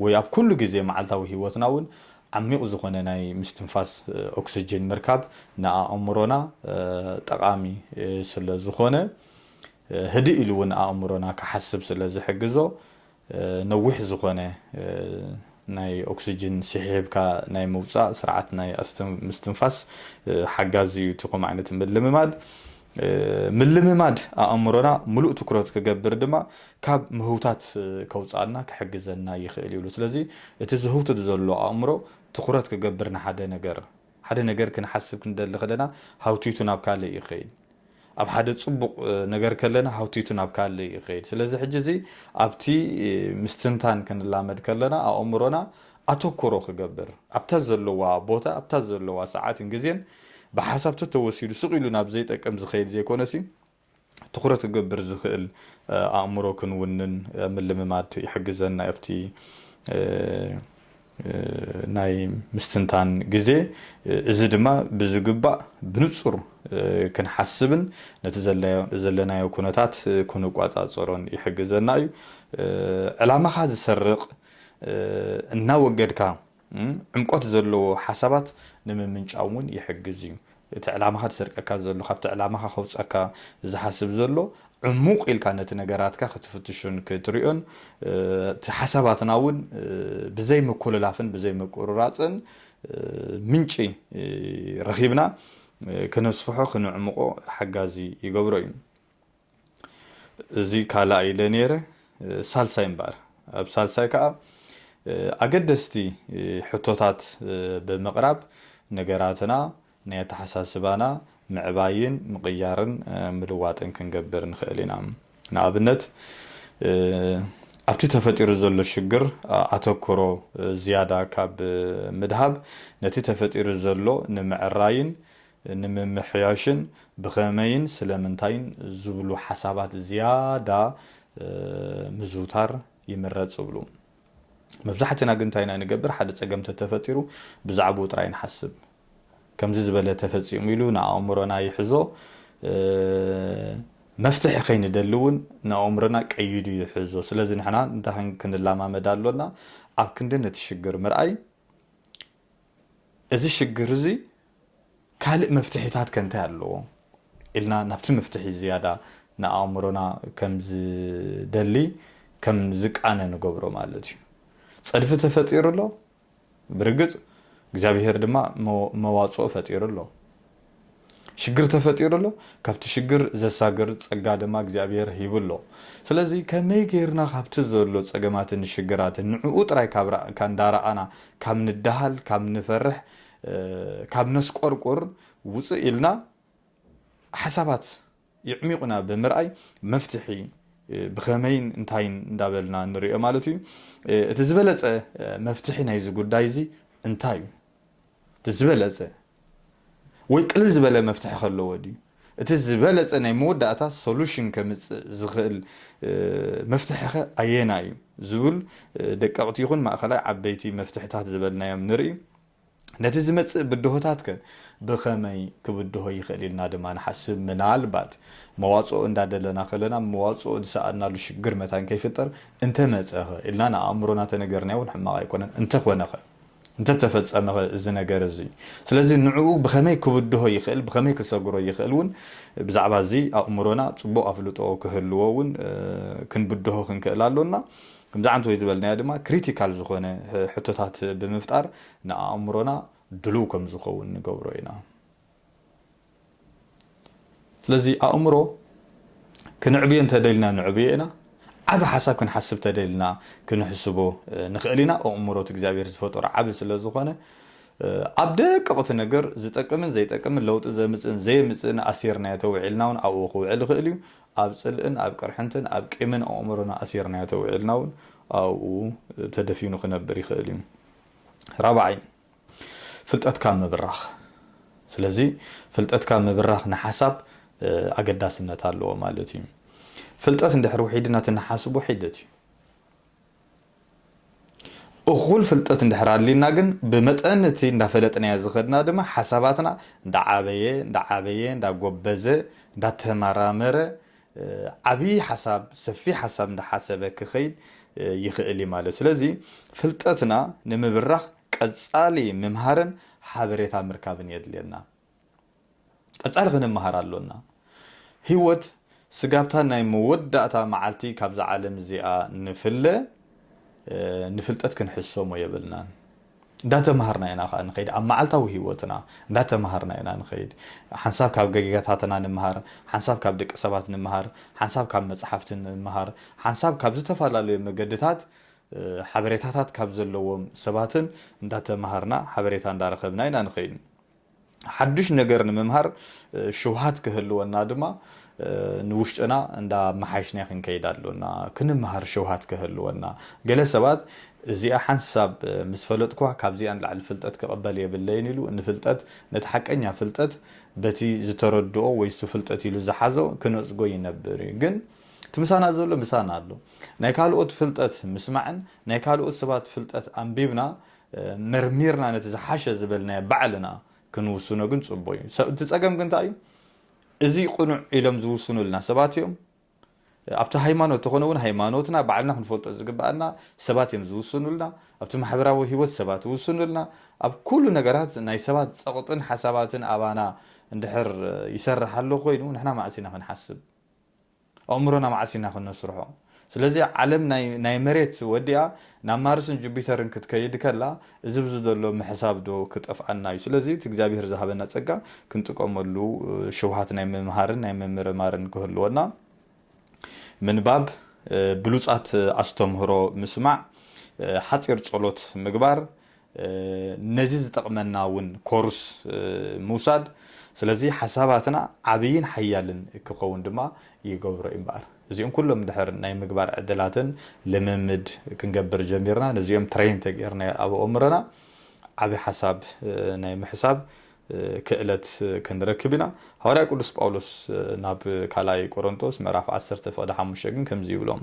ወይ ኣብ ኩሉ ግዜ መዓልታዊ ህይወትና እውን ዓሚቕ ዝኾነ ናይ ምስትንፋስ ኦክስጅን ምርካብ ንኣእምሮና ጠቓሚ ስለ ዝኾነ፣ ህድእ ኢሉ እውን ኣእምሮና ክሓስብ ስለ ዝሕግዞ፣ ነዊሕ ዝኾነ ናይ ኦክስጅን ስሒብካ ናይ ምውጻእ ስርዓት ናይ ምስትንፋስ ሓጋዚ እዩ እቲ ከምኡ ዓይነት ምልምማድ። ምልምማድ ኣእምሮና ምሉእ ትኩረት ክገብር ድማ ካብ ምህውታት ከውጽኣና ክሕግዘና ይኽእል ይብሉ። ስለዚ እቲ ዝህውትት ዘሎ ኣእምሮ ትኩረት ክገብር ንሓደ ነገር፣ ሓደ ነገር ክንሓስብ ክንደሊ ከለና ሃውቲቱ ናብ ካልእ እዩ ክኸይድ። ኣብ ሓደ ጽቡቕ ነገር ከለና ሃውቲቱ ናብ ካልእ እዩ ክኸይድ። ስለዚ ሕጂ እዚ ኣብቲ ምስትንታን ክንላመድ ከለና ኣእምሮና ኣተኩሮ ክገብር፣ ኣብታ ዘለዋ ቦታ፣ ኣብታ ዘለዋ ሰዓትን ግዜን ብሓሳብ ተተወሲዱ ስቕ ኢሉ ናብ ዘይጠቅም ዝኸይድ ዘይኮነሲ ትኹረት ክገብር ዝኽእል ኣእምሮ ክንውንን ምልምማድ ይሕግዘና ኣብቲ ናይ ምስትንታን ግዜ እዚ ድማ ብዝግባእ ብንጹር ክንሓስብን ነቲ ዘለናዮ ኩነታት ክንቋጻጸሮን ይሕግዘና እዩ ዕላማኻ ዝሰርቕ እናወገድካ ዕምቆት ዘለዎ ሓሳባት ንምምንጫው እውን ይሕግዝ እዩ። እቲ ዕላማኻ ዝሰርቀካ ዘሎ፣ ካብቲ ዕላማኻ ከውጸካ ዝሓስብ ዘሎ ዕሙቕ ኢልካ ነቲ ነገራትካ ክትፍትሾን ክትሪኦን እቲ ሓሳባትና እውን ብዘይ ምኩልላፍን ብዘይ ምቁርራጽን ምንጪ ረኺብና ክነስፍሖ ክነዕምቖ ሓጋዚ ይገብሮ እዩ። እዚ ካላኣይ ኢለ ነይረ ሳልሳይ እምበኣር ኣብ ሳልሳይ ከኣ ኣገደስቲ ሕቶታት ብምቕራብ ነገራትና ናይ ኣተሓሳስባና ምዕባይን ምቕያርን ምልዋጥን ክንገብር ንኽእል ኢና። ንኣብነት ኣብቲ ተፈጢሩ ዘሎ ሽግር ኣተኩሮ ዝያዳ ካብ ምድሃብ ነቲ ተፈጢሩ ዘሎ ንምዕራይን ንምምሕያሽን ብኸመይን ስለምንታይን ዝብሉ ሓሳባት ዝያዳ ምዝውታር ይምረጽ እብሉ። መብዛሕትና ግን እንታይ ኢና ንገብር? ሓደ ጸገም እንተተፈጢሩ ብዛዕብኡ ጥራይ ንሓስብ። ከምዚ ዝበለ ተፈጺሙ ኢሉ ንኣእምሮና ይሕዞ፣ መፍትሒ ከይንደሊ እውን ንኣእምሮና ቀይዱ ይሕዞ። ስለዚ ንሕና እንታይ ክንለማመድ ኣሎና? ኣብ ክንዲ ነቲ ሽግር ምርኣይ፣ እዚ ሽግር እዚ ካልእ መፍትሒታት ከ እንታይ ኣለዎ? ኢልና ናብቲ መፍትሒ ዝያዳ ንኣእምሮና ከም ዝደሊ ከም ዝቃነ ንገብሮ ማለት እዩ። ጸድፊ ተፈጢሩ ኣሎ፣ ብርግጽ እግዚኣብሄር ድማ መዋጽኦ ፈጢሩ ኣሎ። ሽግር ተፈጢሩ ኣሎ ካብቲ ሽግር ዘሳግር ጸጋ ድማ እግዚኣብሄር ሂቡ ኣሎ ስለዚ ከመይ ጌርና ካብቲ ዘሎ ጸገማትን ሽግራትን ንዕኡ ጥራይ ካብ ራእካ እንዳራኣና ካብ ንዳሃል ካብ ንፈርሕ ካብ ነስቆርቁር ውጽእ ኢልና ሓሳባት የዕሚቑና ብምርኣይ መፍትሒ ብኸመይን እንታይን እንዳበልና ንሪኦ ማለት እዩ። እቲ ዝበለፀ መፍትሒ ናይዚ ጉዳይ እዚ እንታይ እዩ? እቲ ዝበለፀ ወይ ቅልል ዝበለ መፍትሒ ከለዎ ድዩ? እቲ ዝበለፀ ናይ መወዳእታ ሶሉሽን ከምፅእ ዝኽእል መፍትሒኸ ኣየናይ እዩ? ዝብል ደቀቕቲ ይኹን ማእኸላይ ዓበይቲ መፍትሕታት ዝበልናዮም ንርኢ። ነቲ ዝመጽእ ብድሆታትከ ብኸመይ ክብድሆ ይኽእል ኢልና ድማ ንሓስብ። ምናልባት መዋጽኦ እንዳደለና ከለና መዋጽኦ ዝሰኣንናሉ ሽግር መታን ከይፍጠር፣ እንተመጸኸ ኢልና ንኣእምሮና ተነገርናዮ'ውን ሕማቕ ኣይኮነን። እንተኾነኸ? እንተተፈጸመኸ እዚ ነገር እዚ? ስለዚ ንዕኡ ብኸመይ ክብድሆ ይኽእል፣ ብኸመይ ክሰግሮ ይኽእል'ውን ብዛዕባ እዚ ኣእምሮና ጽቡቕ ኣፍልጦ ክህልዎ'ውን ክንብድሆ ክንክእል ኣሎና። ከምዚ ዓንት ወይ ዝበልናዮ ድማ ክሪቲካል ዝኾነ ሕቶታት ብምፍጣር ንኣእምሮና ድሉው ከም ዝኸውን ንገብሮ ኢና። ስለዚ ኣእምሮ ክንዕብዮ እንተደሊና ንዕብዮ ኢና፣ ዓቢ ሓሳብ ክንሓስብ ተደሊና ክንሕስቦ ንኽእል ኢና፣ ኣእምሮ እቲ እግዚኣብሔር ዝፈጠሮ ዓቢ ስለ ዝኾነ ኣብ ደቀቕቲ ነገር ዝጠቅምን ዘይጠቅምን ለውጢ ዘምጽእን ዘየምጽእን ኣሲርናዮ ተውዒልና እውን ኣብኡ ክውዕል ይኽእል እዩ። ኣብ ጽልእን ኣብ ቅርሕንትን ኣብ ቂምን ኣእምሮና ኣሲርናዮ ተዊዒልና እውን ኣብኡ ተደፊኑ ክነብር ይኽእል እዩ። ራብዓይ፣ ፍልጠትካ ምብራኽ። ስለዚ ፍልጠትካ ምብራኽ ንሓሳብ ኣገዳስነት ኣለዎ ማለት እዩ። ፍልጠት እንድሕር ውሒድና እቲ ንሓስቦ ሒደት እዩ። እኹል ፍልጠት እንድሕር ኣልዩና ግን ብመጠን እቲ እንዳፈለጥናዮ ዝኸድና ድማ ሓሳባትና እንዳዓበየ እንዳዓበየ እንዳጎበዘ እንዳተመራመረ ዓብይ ሓሳብ ሰፊሕ ሓሳብ እንዳሓሰበ ክኸይድ ይኽእል እዩ ማለት ስለዚ ፍልጠትና ንምብራኽ ቀፃሊ ምምሃርን ሓበሬታ ምርካብን የድልየና። ቀጻሊ ክንመሃር ኣሎና። ህይወት ስጋብታ ናይ መወዳእታ መዓልቲ ካብዛ ዓለም እዚኣ ንፍለ፣ ንፍልጠት ክንሕሰሞ የብልናን። እንዳተመሃርና ኢና ከኣ ንኸይድ። ኣብ መዓልታዊ ህይወትና እንዳተመሃርና ኢና ንኸይድ። ሓንሳብ ካብ ገጌጋታትና ንምሃር፣ ሓንሳብ ካብ ደቂ ሰባት ንምሃር፣ ሓንሳብ ካብ መጽሓፍቲ ንምሃር፣ ሓንሳብ ካብ ዝተፈላለዩ መገድታት ሓበሬታታት ካብ ዘለዎም ሰባትን እንዳተመሃርና ሓበሬታ እንዳረኸብና ኢና ንኸይድ። ሓዱሽ ነገር ንምምሃር ሽውሃት ክህልወና ድማ ንውሽጥና እንዳ መሓይሽና ክንከይድ ኣሎና። ክንምሃር ሽውሃት ክህልወና። ገለ ሰባት እዚኣ ሓንሳብ ምስ ፈለጥኩዋ ካብዚኣ ንላዕሊ ፍልጠት ክቕበል የብለይን ኢሉ ንፍልጠት ነቲ ሓቀኛ ፍልጠት በቲ ዝተረድኦ ወይ እሱ ፍልጠት ኢሉ ዝሓዞ ክነጽጎ ይነብር እዩ። ግን እቲ ምሳና ዘሎ ምሳና ኣሎ። ናይ ካልኦት ፍልጠት ምስማዕን ናይ ካልኦት ሰባት ፍልጠት ኣንቢብና መርሚርና ነቲ ዝሓሸ ዝበልናዮ ባዕልና ክንውስኖ ግን ጽቡቕ እዩ። እቲ ጸገም ግን እንታይ እዩ? እዚ ቅኑዕ ኢሎም ዝውስኑልና ሰባት እዮም። ኣብቲ ሃይማኖት ተኾነ እውን ሃይማኖትና ባዕልና ክንፈልጦ ዝግብኣና ሰባት እዮም ዝውስኑልና። ኣብቲ ማሕበራዊ ህይወት ሰባት ይውስኑልና። ኣብ ኩሉ ነገራት ናይ ሰባት ጸቕጥን ሓሳባትን ኣባና እንድሕር ይሰርሕ ኣሎ ኮይኑ ንሕና መዓስ ኢና ክንሓስብ ኣእምሮና መዓስ ኢና ክነስርሖ? ስለዚ ዓለም ናይ ናይ መሬት ወዲኣ ናብ ማርስን ጁቢተርን ክትከይድ ከላ እዚ ብዚ ዘሎ ምሕሳብ ዶ ክጠፍኣና እዩ? ስለዚ እቲ እግዚኣብሄር ዝሃበና ጸጋ ክንጥቀመሉ ሽውሃት ናይ ምምሃርን ናይ ምምርማርን ክህልወና ምንባብ ብሉጻት ኣስተምህሮ ምስማዕ ሓጺር ጸሎት ምግባር ነዚ ዝጠቕመና እውን ኮርስ ምውሳድ ስለዚ ሓሳባትና ዓብይን ሓያልን ክኸውን ድማ ይገብሮ እዩ እምበኣር እዚኦም ኩሎም ድሕር ናይ ምግባር ዕድላትን ልምምድ ክንገብር ጀሚርና ነዚኦም ትሬን ተገይርና ኣብ ኣእምሮና ዓብይ ሓሳብ ናይ ምሕሳብ ክእለት ክንረክብ ኢና ሃዋርያ ቅዱስ ጳውሎስ ናብ ካልኣይ ቆሮንጦስ ምዕራፍ 10 ፍቕዲ ሓሙሽተ ግን ከምዚ ይብሎም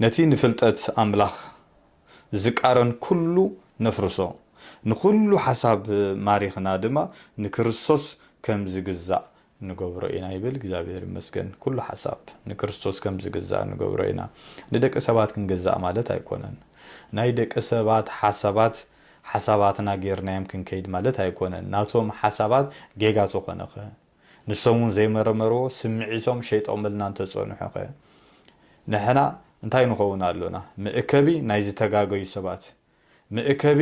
ነቲ ንፍልጠት ኣምላኽ ዚቃረን ኩሉ ነፍርሶ፣ ንኹሉ ሓሳብ ማሪኽና ድማ ንክርስቶስ ከም ዚግዛእ ንገብሮ ኢና ይብል። እግዚኣብሔር ይመስገን ኩሉ ሓሳብ ንክርስቶስ ከም ዚግዛእ ንገብሮ ኢና። ንደቂ ሰባት ክንገዛእ ማለት ኣይኮነን። ናይ ደቂ ሰባት ሓሳባት ሓሳባትና ጌርናዮም ክንከይድ ማለት ኣይኮነን። ናቶም ሓሳባት ጌጋ ተኾነኸ? ንሶም ውን ዘይመረመርዎ ስምዒቶም ሸይጦምልና እንተጸንሑ ከ ንሕና እንታይ ንኸውን ኣሎና መእከቢ ናይ ዝተጋገዩ ሰባት መእከቢ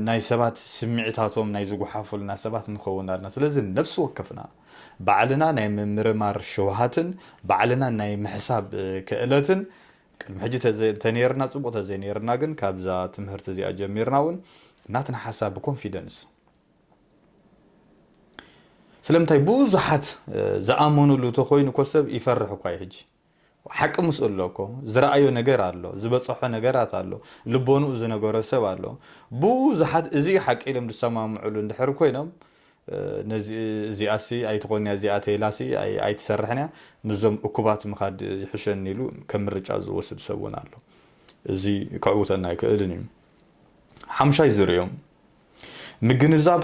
ናይ ሰባት ስምዒታቶም ናይ ዝጉሓፉልና ሰባት ንኸውን ኣሎና ስለዚ ነፍሲ ወከፍና ባዕልና ናይ ምምርማር ሽውሃትን ባዕልና ናይ ምሕሳብ ክእለትን ቅድሚ ሕጂ ተነይርና ጽቡቅ ተዘይነይርና ግን ካብዛ ትምህርቲ እዚኣ ጀሚርና ውን ናትና ሓሳብ ብኮንፊደንስ ስለምንታይ ብዙሓት ዝኣመኑሉ ተኮይኑ እኮ ሰብ ይፈርሕ እኳ እዩ ሕጂ ሓቂ ምስኡ ኣሎ እኮ ዝረኣዮ ነገር ኣሎ ዝበፀሖ ነገራት ኣሎ ልቦንኡ ዝነገሮ ሰብ ኣሎ ብዙሓት እዚ ሓቂ ኢሎም ዝሰማምዕሉ እንድሕር ኮይኖም እዚኣሲ ኣይትኾን እያ እዚኣ ተይላሲ ኣይትሰርሕን እያ ምስዞም እኩባት ምኻድ ይሕሸኒ ኢሉ ከም ምርጫ ዝወስድ ሰብ እውን ኣሎ እዚ ከዕውተና ኣይክእልን እዩ ሓምሻይ ዝርኦም ምግንዛብ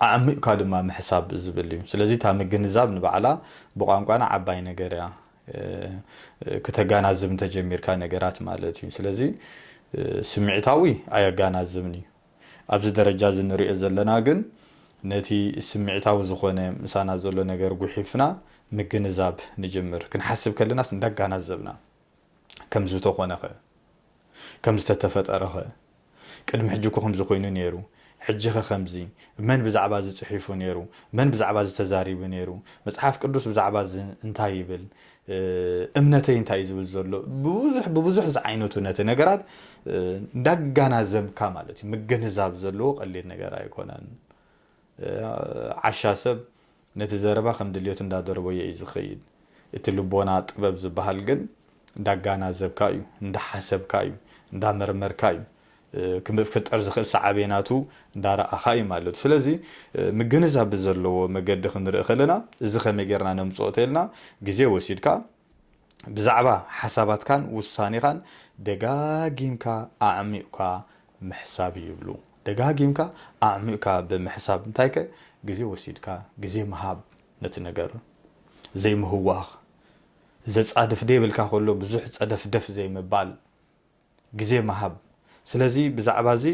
ኣዕሚቕካ ድማ ምሕሳብ ዝብል እዩ። ስለዚ እታ ምግንዛብ ንባዕላ ብቋንቋና ዓባይ ነገር እያ። ክተጋናዝብ እንተጀሚርካ ነገራት ማለት እዩ። ስለዚ ስምዒታዊ ኣየጋናዝብን እዩ። ኣብዚ ደረጃ እዚ ንሪኦ ዘለና ግን ነቲ ስምዒታዊ ዝኾነ ምሳና ዘሎ ነገር ጉሒፍና ምግንዛብ ንጅምር። ክንሓስብ ከለናስ እንዳጋናዘብና ከምዝተኾነኸ። ከም ዝተተፈጠረ ከ ቅድሚ ሕጂ እኮ ከምዚ ኮይኑ ኔሩ ሕጂ ከ ከምዚ መን ብዛዕባ እዚ ጽሒፉ ኔሩ መን ብዛዕባ እዚ ተዛሪቡ ኔሩ መጽሓፍ ቅዱስ ብዛዕባ እዚ እንታይ ይብል እምነተይ እንታይ እዩ ዝብል ዘሎ ብብዙሕ ብብዙሕ ዝዓይነቱ ነቲ ነገራት እንዳጋናዘብካ ማለት እዩ ምግንዛብ ዘለዎ ቀሊል ነገር ኣይኮነን ዓሻ ሰብ ነቲ ዘረባ ከም ድልየቱ እንዳደርበዮ እዩ ዝኸይድ። እቲ ልቦና ጥበብ ዝበሃል ግን እንዳጋናዘብካ እዩ፣ እንዳሓሰብካ እዩ፣ እንዳመርመርካ እዩ፣ ክፍጠር ዝኽእል ሳዕቤናቱ እንዳረኣኻ እዩ ማለት'ዩ። ስለዚ ምግንዛብ ብዘለዎ መገዲ ክንርኢ ከለና እዚ ከመይ ጌርና ነምጽኦ ተይልና ግዜ ወሲድካ፣ ብዛዕባ ሓሳባትካን ውሳኔኻን ደጋጊምካ ኣዕሚቝካ ምሕሳብ ይብሉ። ደጋጊምካ ኣዕሚቝካ ብምሕሳብ እንታይከ ግዜ ወሲድካ ግዜ ምሃብ ነቲ ነገር ዘይምህዋኽ፣ ዘጻድፍ ደይብልካ ከሎ ብዙሕ ጸደፍደፍ ዘይምባል፣ ግዜ ምሃብ። ስለዚ ብዛዕባ እዚ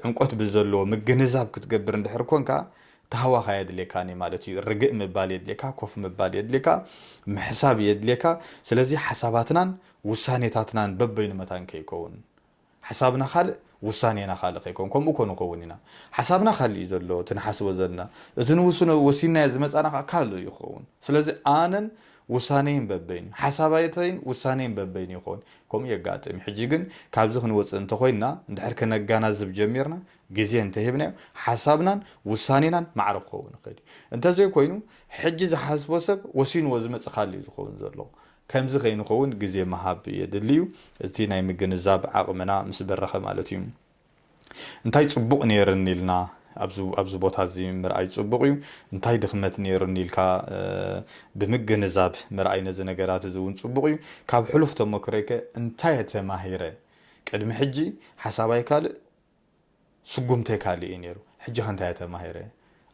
ዕምቆት ብዘለዎ ምግንዛብ ክትገብር እንድሕር ኰንካ፣ ታህዋኽ ኣየድልየካን እዩ ማለት እዩ። ርግእ ምባል የድልየካ፣ ኮፍ ምባል የድልየካ፣ ምሕሳብ የድልየካ። ስለዚ ሓሳባትናን ውሳኔታትናን በበይኑ መታን ከይከውን። ሓሳብና ካልእ ውሳኔና ካልእ ከይከውን። ከምኡ እኮ ንኸውን ኢና። ሓሳብና ካልእ እዩ ዘሎ፣ እቲ ንሓስቦ ዘለና። እቲ ንውስኖ ወሲንናዮ ዝመጻና ከኣ ካልእ እዩ ክኸውን። ስለዚ ኣነን ውሳኔይን በበይኑ፣ ሓሳባተይን ውሳኔይን በበይኑ ይኸውን፣ ከምኡ የጋጥም እዩ። ሕጂ ግን ካብዚ ክንወጽእ እንተኾይንና፣ እንድሕር ከነጋናዝብ ጀሚርና፣ ግዜ እንተሂብናዮ፣ ሓሳብናን ውሳኔናን ማዕረ ክኸውን ይኽእል እዩ። እንተዘይኮይኑ፣ ሕጂ ዝሓስቦ ሰብ ወሲንዎ ዝመጽእ ካልእ እዩ ዝኸውን ዘሎ። ከምዚ ከይንኸውን ግዜ ምሃብ የድሊ እዩ፣ እቲ ናይ ምግንዛብ ዓቕምና ምስ በረኸ ማለት እዩ። እንታይ ጽቡቕ ኔርኒ ኢልና ኣብዚ ኣብዚ ቦታ እዚ ምርኣይ ጽቡቕ እዩ። እንታይ ድኽመት ኔሩኒ ኢልካ ብምግንዛብ ምርኣይ ነዚ ነገራት እዚ እውን ጽቡቕ እዩ። ካብ ሕሉፍ ተሞክሮይ ከ እንታይ እየ ተማሂረ? ቅድሚ ሕጂ ሓሳባይ ካልእ ስጉምተይ ካልእ እዩ ኔሩ። ሕጂ ከ እንታይ እየ ተማሂረ?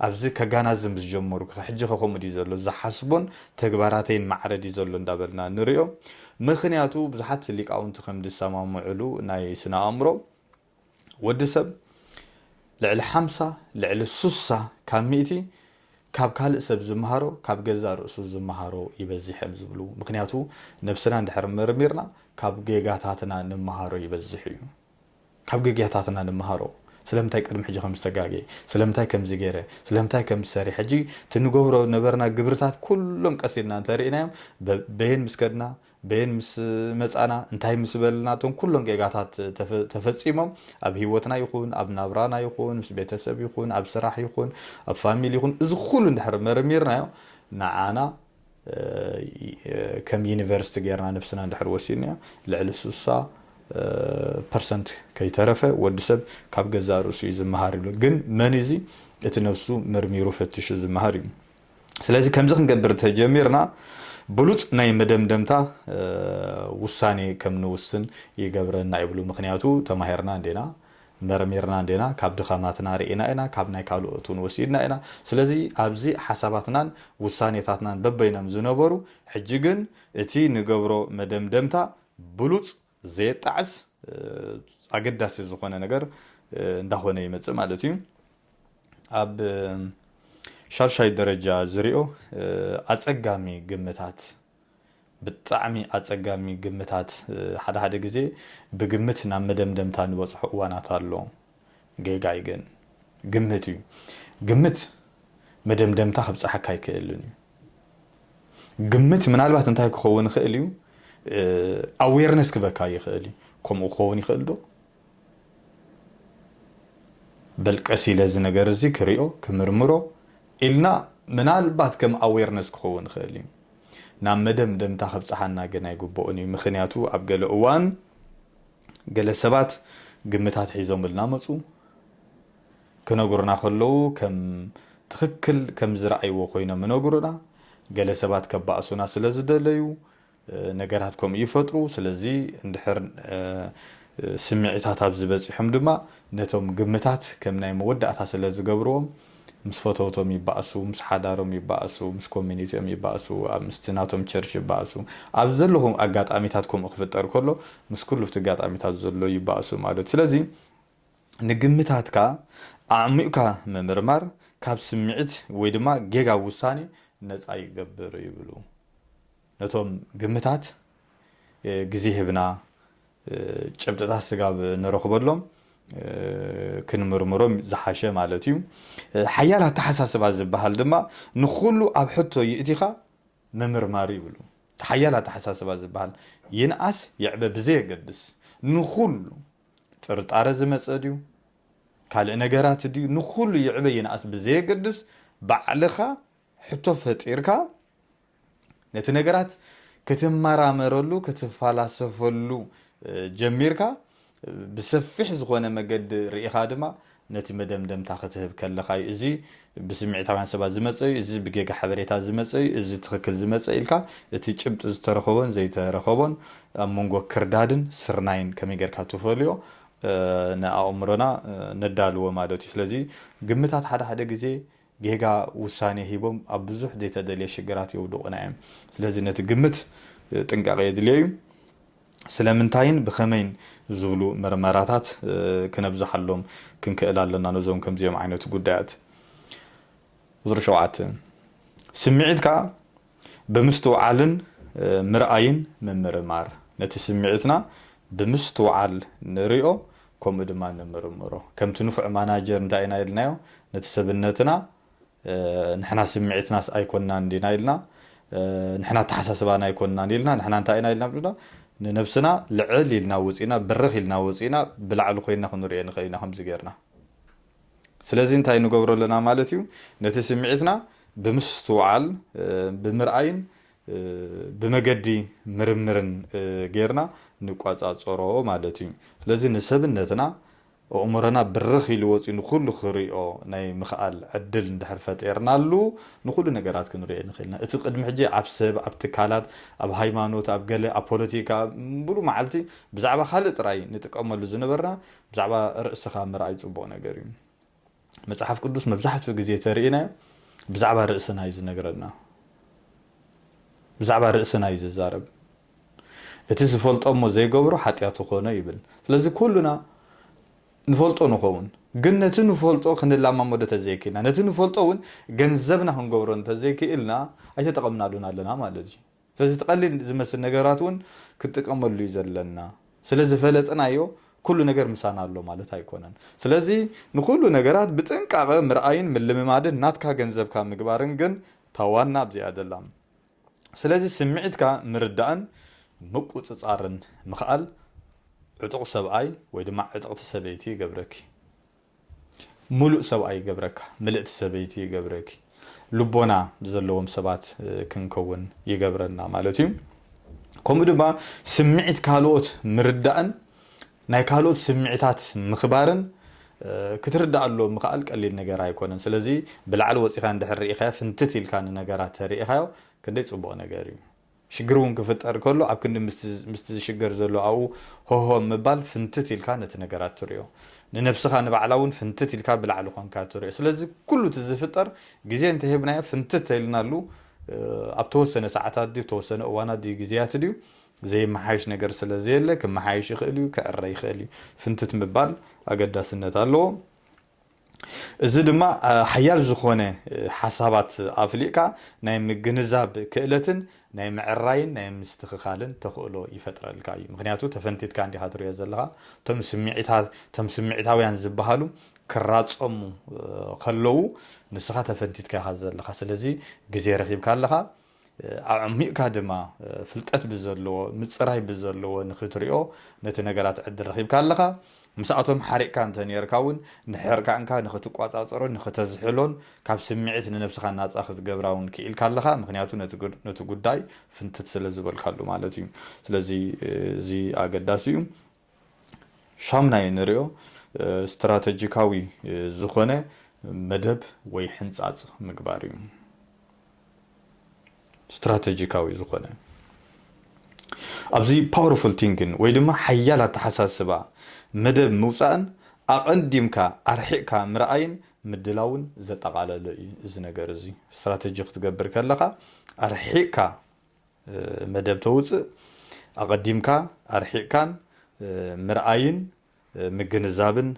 ኣብዚ ከጋናዝብ ምስ ጀመርኩ ሕጂኸ ከምኡ ድዩ ዘሎ ዝሓስቦን ተግባራተይን ማዕረ ድዩ ዘሎ እንዳበልና ንሪኦ ምኽንያቱ ብዙሓት ሊቃውንቲ ከም ዝሰማምዕሉ ናይ ስነ ኣእምሮ ወዲ ሰብ ልዕሊ ሓምሳ ልዕሊ ሱሳ ካብ ሚእቲ ካብ ካልእ ሰብ ዝመሃሮ ካብ ገዛእ ርእሱ ዝመሃሮ ይበዝሕ እዮም ዝብሉ ምኽንያቱ ነብስና እንድሕር መርሚርና ካብ ጌጋታትና ንመሃሮ ይበዝሕ እዩ ካብ ጌጋታትና ንመሃሮ ስለምንታይ ቅድሚ ሕጂ ከምዚ ተጋግየ ስለምንታይ ከምዚ ጌረ ስለምንታይ ከምዚ ሰሪሐ ሕጂ እቲ ንገብሮ ዝነበርና ግብርታት ኩሎም ቀስ ኢልና እንተ ርኢናዮም በየን ምስ ከድና በየን ምስ መጻና እንታይ ምስ በልና እቶም ኩሎም ጌጋታት ተፈጺሞም ኣብ ሂወትና ይኹን ኣብ ናብራና ይኹን ምስ ቤተሰብ ይኹን ኣብ ስራሕ ይኹን ኣብ ፋሚሊ ይኹን እዚ ኩሉ እንድሕር መርሚርናዮ ንዓና ከም ዩኒቨርስቲ ገይርና ነብስና እንድሕር ወሲድና ልዕሊ ስሳ ፐርሰንት ከይተረፈ ወዲ ሰብ ካብ ገዛእ ርእሱ እዩ ዝመሃር ይብሉ። ግን መን እዚ እቲ ነብሱ መርሚሩ ፈቲሹ ዝመሃር እዩ። ስለዚ ከምዚ ክንገብር እንተጀሚርና ብሉጽ ናይ መደምደምታ ውሳኔ ከም ንውስን ይገብረና ይብሉ። ምክንያቱ ተማሂርና እንዲና መርሚርና እንዲና ካብ ድኸማትና ርኢና ኢና ካብ ናይ ካልኦት ውን ወሲድና ኢና ስለዚ ኣብዚ ሓሳባትናን ውሳኔታትናን በበይኖም ዝነበሩ ሕጂ ግን እቲ ንገብሮ መደምደምታ ብሉጽ ዘየጣዕስ ኣገዳሲ ዝኾነ ነገር እንዳኾነ ይመጽእ ማለት እዩ ኣብ ሻድሻይ ደረጃ ዝሪኦ ኣጸጋሚ ግምታት ብጣዕሚ ኣጸጋሚ ግምታት ሓደ ሓደ ግዜ ብግምት ናብ መደምደምታ ንበጽሖ እዋናት ኣሎ ጌጋይ ግን ግምት እዩ ግምት መደምደምታ ክብጽሓካ ኣይክእልን እዩ ግምት ምናልባት እንታይ ክኸውን ይኽእል እዩ ኣዌርነስ ክበካ ይኽእል እዩ ከምኡ ክኸውን ይኽእል ዶ በል ቀስ ኢለ እዚ ነገር እዚ ክሪኦ ክምርምሮ ኢልና ምናልባት ከም ኣዌርነስ ክኸውን ይኽእል እዩ ናብ መደምደምታ ከብጽሓና ግን ኣይግብኦን እዩ ምኽንያቱ ኣብ ገለ እዋን ገለ ሰባት ግምታት ሒዞምልና መጹ ክነግሩና ከለዉ ከም ትኽክል ከም ዝረኣይዎ ኮይኖም ይነግሩና ገለ ሰባት ከባእሱና ስለ ዝደለዩ ነገራት ከምኡ ይፈጥሩ። ስለዚ እንድሕር ስምዒታት ኣብዚ በጺሖም ድማ ነቶም ግምታት ከም ናይ መወዳእታ ስለ ዝገብርዎም ምስ ፈተውቶም ይባእሱ፣ ምስ ሓዳሮም ይባእሱ፣ ምስ ኮሚኒቲኦም ይባእሱ፣ ምስቲ ናቶም ቸርች ይባእሱ። ኣብዚ ዘለኹ ኣጋጣሚታት ከምኡ ክፍጠር ከሎ ምስ ኩሉ ኣብቲ ኣጋጣሚታት ዘሎ ይባእሱ ማለት እዩ። ስለዚ ንግምታትካ ኣዕሚቝካ ምምርማር ካብ ስምዒት ወይ ድማ ጌጋ ውሳኔ ነጻ ይገብር ይብሉ። ነቶም ግምታት ግዜ ሂብና ጭብጥታት ስጋብ ንረኽበሎም ክንምርምሮም ዝሓሸ ማለት እዩ። ሓያል ኣተሓሳስባ ዝበሃል ድማ ንኹሉ ኣብ ሕቶ ይእቲኻ ምምርማር ይብሉ። እቲ ሓያል ኣተሓሳስባ ዝበሃል ይንኣስ ይዕበ ብዘየገድስ ንኹሉ ጥርጣረ ዝመፀ ድዩ ካልእ ነገራት ድዩ ንኹሉ ይዕበ ይንኣስ ብዘየገድስ ባዕልኻ ሕቶ ፈጢርካ ነቲ ነገራት ክትመራመረሉ ክትፋላሰፈሉ ጀሚርካ ብሰፊሕ ዝኾነ መገዲ ርኢኻ ድማ ነቲ መደምደምታ ክትህብ ከለኻ እዩ እዚ ብስምዒታውያን ሰባት ዝመፀ እዩ እዚ ብጌጋ ሓበሬታ ዝመፀ እዩ እዚ ትኽክል ዝመፀ ኢልካ እቲ ጭብጢ ዝተረኸቦን ዘይተረኸቦን ኣብ መንጎ ክርዳድን ስርናይን ከመይ ጌርካ ትፈልዮ ንኣእምሮና ነዳልዎ ማለት እዩ ስለዚ ግምታት ሓደ ሓደ ግዜ ጌጋ ውሳኔ ሂቦም ኣብ ብዙሕ ዘይተደልየ ሽግራት የውድቑና እዮም። ስለዚ ነቲ ግምት ጥንቃቐ የድልዮ እዩ። ስለምንታይን ብኸመይን ዝብሉ ምርመራታት ክነብዝሓሎም ክንክእል ኣለና ነዞም ከምዚኦም ዓይነት ጉዳያት። ቁጽሪ ሸውዓተ፣ ስምዒትካ ብምስትውዓልን ምርኣይን ምምርማር፣ ነቲ ስምዒትና ብምስትውዓል ንሪኦ ከምኡ ድማ ንምርምሮ። ከምቲ ንፉዕ ማናጀር እንታይ ኢና ኢልናዮ ነቲ ሰብነትና ንሕና ስምዒትናስ ኣይኮናን እንዲና ኢልና ንሕና ኣተሓሳስባና ኣይኮናን ኢልና ንሕና እንታይ ኢና ኢልና ብልና ንነብስና ልዕል ኢልና ወጺእና ብርኽ ኢልና ወጺእና ብላዕሊ ኮይና ክንሪኦ ንኽእል ኢና ከምዚ ጌርና ስለዚ እንታይ ንገብሮ ኣለና ማለት እዩ፣ ነቲ ስምዒትና ብምስትውዓል፣ ብምርኣይን ብመገዲ ምርምርን ጌርና ንቆጻጸሮ ማለት እዩ። ስለዚ ንሰብነትና፣ ኣእምሮና ብርኽ ኢሉ ወጺኡ ንኹሉ ክርእዮ ናይ ምኽኣል ዕድል እንድሕር ፈጢርናሉ፣ ንኹሉ ነገራት ክንርእዮ ንኽእል ኢና። እቲ ቅድሚ ሕጂ ኣብ ሰብ፣ ኣብ ትካላት፣ ኣብ ሃይማኖት፣ ኣብ ገለ፣ ኣብ ፖለቲካ፣ ሙሉእ መዓልቲ ብዛዕባ ካልእ ጥራይ ንጥቀመሉ ዝነበርና፣ ብዛዕባ ርእስኻ ምርኣይ ጽቡቕ ነገር እዩ። መጽሓፍ ቅዱስ መብዛሕትኡ ግዜ ተርኢናዮ ብዛዕባ ርእስና እዩ ዝነግረና። ብዛዕባ ርእስና እዩ ዝዛረብ። እቲ ዝፈልጦ እሞ ዘይገብሮ ሓጢኣቱ ኮነ ይብል። ስለዚ ኩሉና ንፈልጦ ንኸውን ግን ነቲ ንፈልጦ ክንላማመዶ ተዘይክኢልና ነቲ ንፈልጦ እውን ገንዘብና ክንገብሮ እንተዘይክኢልና ኣይተጠቐምናሉን ኣለና ማለት እዩ። ስለዚ እቲ ቀሊል ዝመስል ነገራት እውን ክንጥቀመሉ እዩ ዘለና። ስለ ዝፈለጥናዮ ኩሉ ነገር ምሳና ኣሎ ማለት ኣይኮነን። ስለዚ ንኹሉ ነገራት ብጥንቃቐ ምርኣይን ምልምማድን ናትካ ገንዘብካ ምግባርን ግን እታ ዋና ኣብዚኣ ዘላ። ስለዚ ስምዒትካ ምርዳእን ምቁጽጻርን ምኽኣል ዕጡቕ ሰብኣይ ወይ ድማ ዕጥቕቲ ሰበይቲ ይገብረኪ። ምሉእ ሰብኣይ ይገብረካ ምልእቲ ሰበይቲ ይገብረኪ ልቦና ዘለዎም ሰባት ክንከውን ይገብረና ማለት እዩ ከምኡ ድማ ስምዒት ካልኦት ምርዳእን ናይ ካልኦት ስምዒታት ምኽባርን ክትርዳኣሎም ምክኣል ቀሊል ነገር ኣይኮነን ስለዚ ብላዕሊ ወፂኻ እንድሕር ርኢኻዮ ፍንትት ኢልካ ንነገራት ተርኢኻዮ ክንደይ ፅቡቕ ነገር እዩ ሽግር እውን ክፍጠር ከሎ ኣብ ክንዲ ምስቲ ዝሽገር ዘሎ ኣብኡ ሆሆ ምባል ፍንትት ኢልካ ነቲ ነገራት ትሪኦ። ንነብስኻ ንባዕላ እውን ፍንትት ኢልካ ብላዕሊ ኮንካ ትሪኦ። ስለዚ ኩሉ እቲ ዝፍጠር ግዜ እንተሂብናዮ ፍንትት ተኢልናሉ ኣብ ተወሰነ ሰዓታት ድዩ ተወሰነ እዋናት ድዩ ግዜያት ድዩ ዘይመሓየሽ ነገር ስለዘየለ ክመሓየሽ ይኽእል እዩ ክዕረ ይኽእል እዩ። ፍንትት ምባል ኣገዳስነት ኣለዎ። እዚ ድማ ሓያል ዝኾነ ሓሳባት ኣፍሊቕካ ናይ ምግንዛብ ክእለትን ናይ ምዕራይን ናይ ምስትኽኻልን ተኽእሎ ይፈጥረልካ እዩ። ምኽንያቱ ተፈንቲትካ እንዲኻ ትሪኦ ዘለኻ እቶም ስምዒታት እቶም ስምዒታውያን ዝበሃሉ ክራጸሙ ከለዉ ንስኻ ተፈንቲትካ ኢኻ ዘለኻ ስለዚ ግዜ ረኺብካ ኣለኻ። ኣዕሚቕካ ድማ ፍልጠት ብዘለዎ ምጽራይ ብዘለዎ ንኽትሪኦ ነቲ ነገራት ዕድል ረኺብካ ኣለኻ። ምስኣቶም ሓሪቕካ እንተ ኔርካ ውን ንሕርቃንካ ንኽትቋጻጸሮን ንኽተዝሕሎን ካብ ስምዒት ንነብስኻ ናጻ ክትገብራ ውን ክኢልካ ኣለኻ ምኽንያቱ ነቲ ጉዳይ ፍንትት ስለ ዝበልካሉ ማለት እዩ። ስለዚ እዚ ኣገዳሲ እዩ። ሻምናይ እንሪኦ ስትራተጂካዊ ዝኾነ መደብ ወይ ሕንፃፅ ምግባር እዩ። ስትራተጂካዊ ዝኾነ ኣብዚ ፓወርፉል ቲንግን ወይ ድማ ሓያል ኣተሓሳስባ መደብ ምውፃእን ኣቐዲምካ ኣርሒቕካ ምርኣይን ምድላውን ዘጠቓለለ እዩ እዚ ነገር እዚ ስትራተጂ ክትገብር ከለኻ ኣርሒቕካ መደብ ተውጽእ ኣቐዲምካ ኣርሒቕካን ምርኣይን ምግንዛብን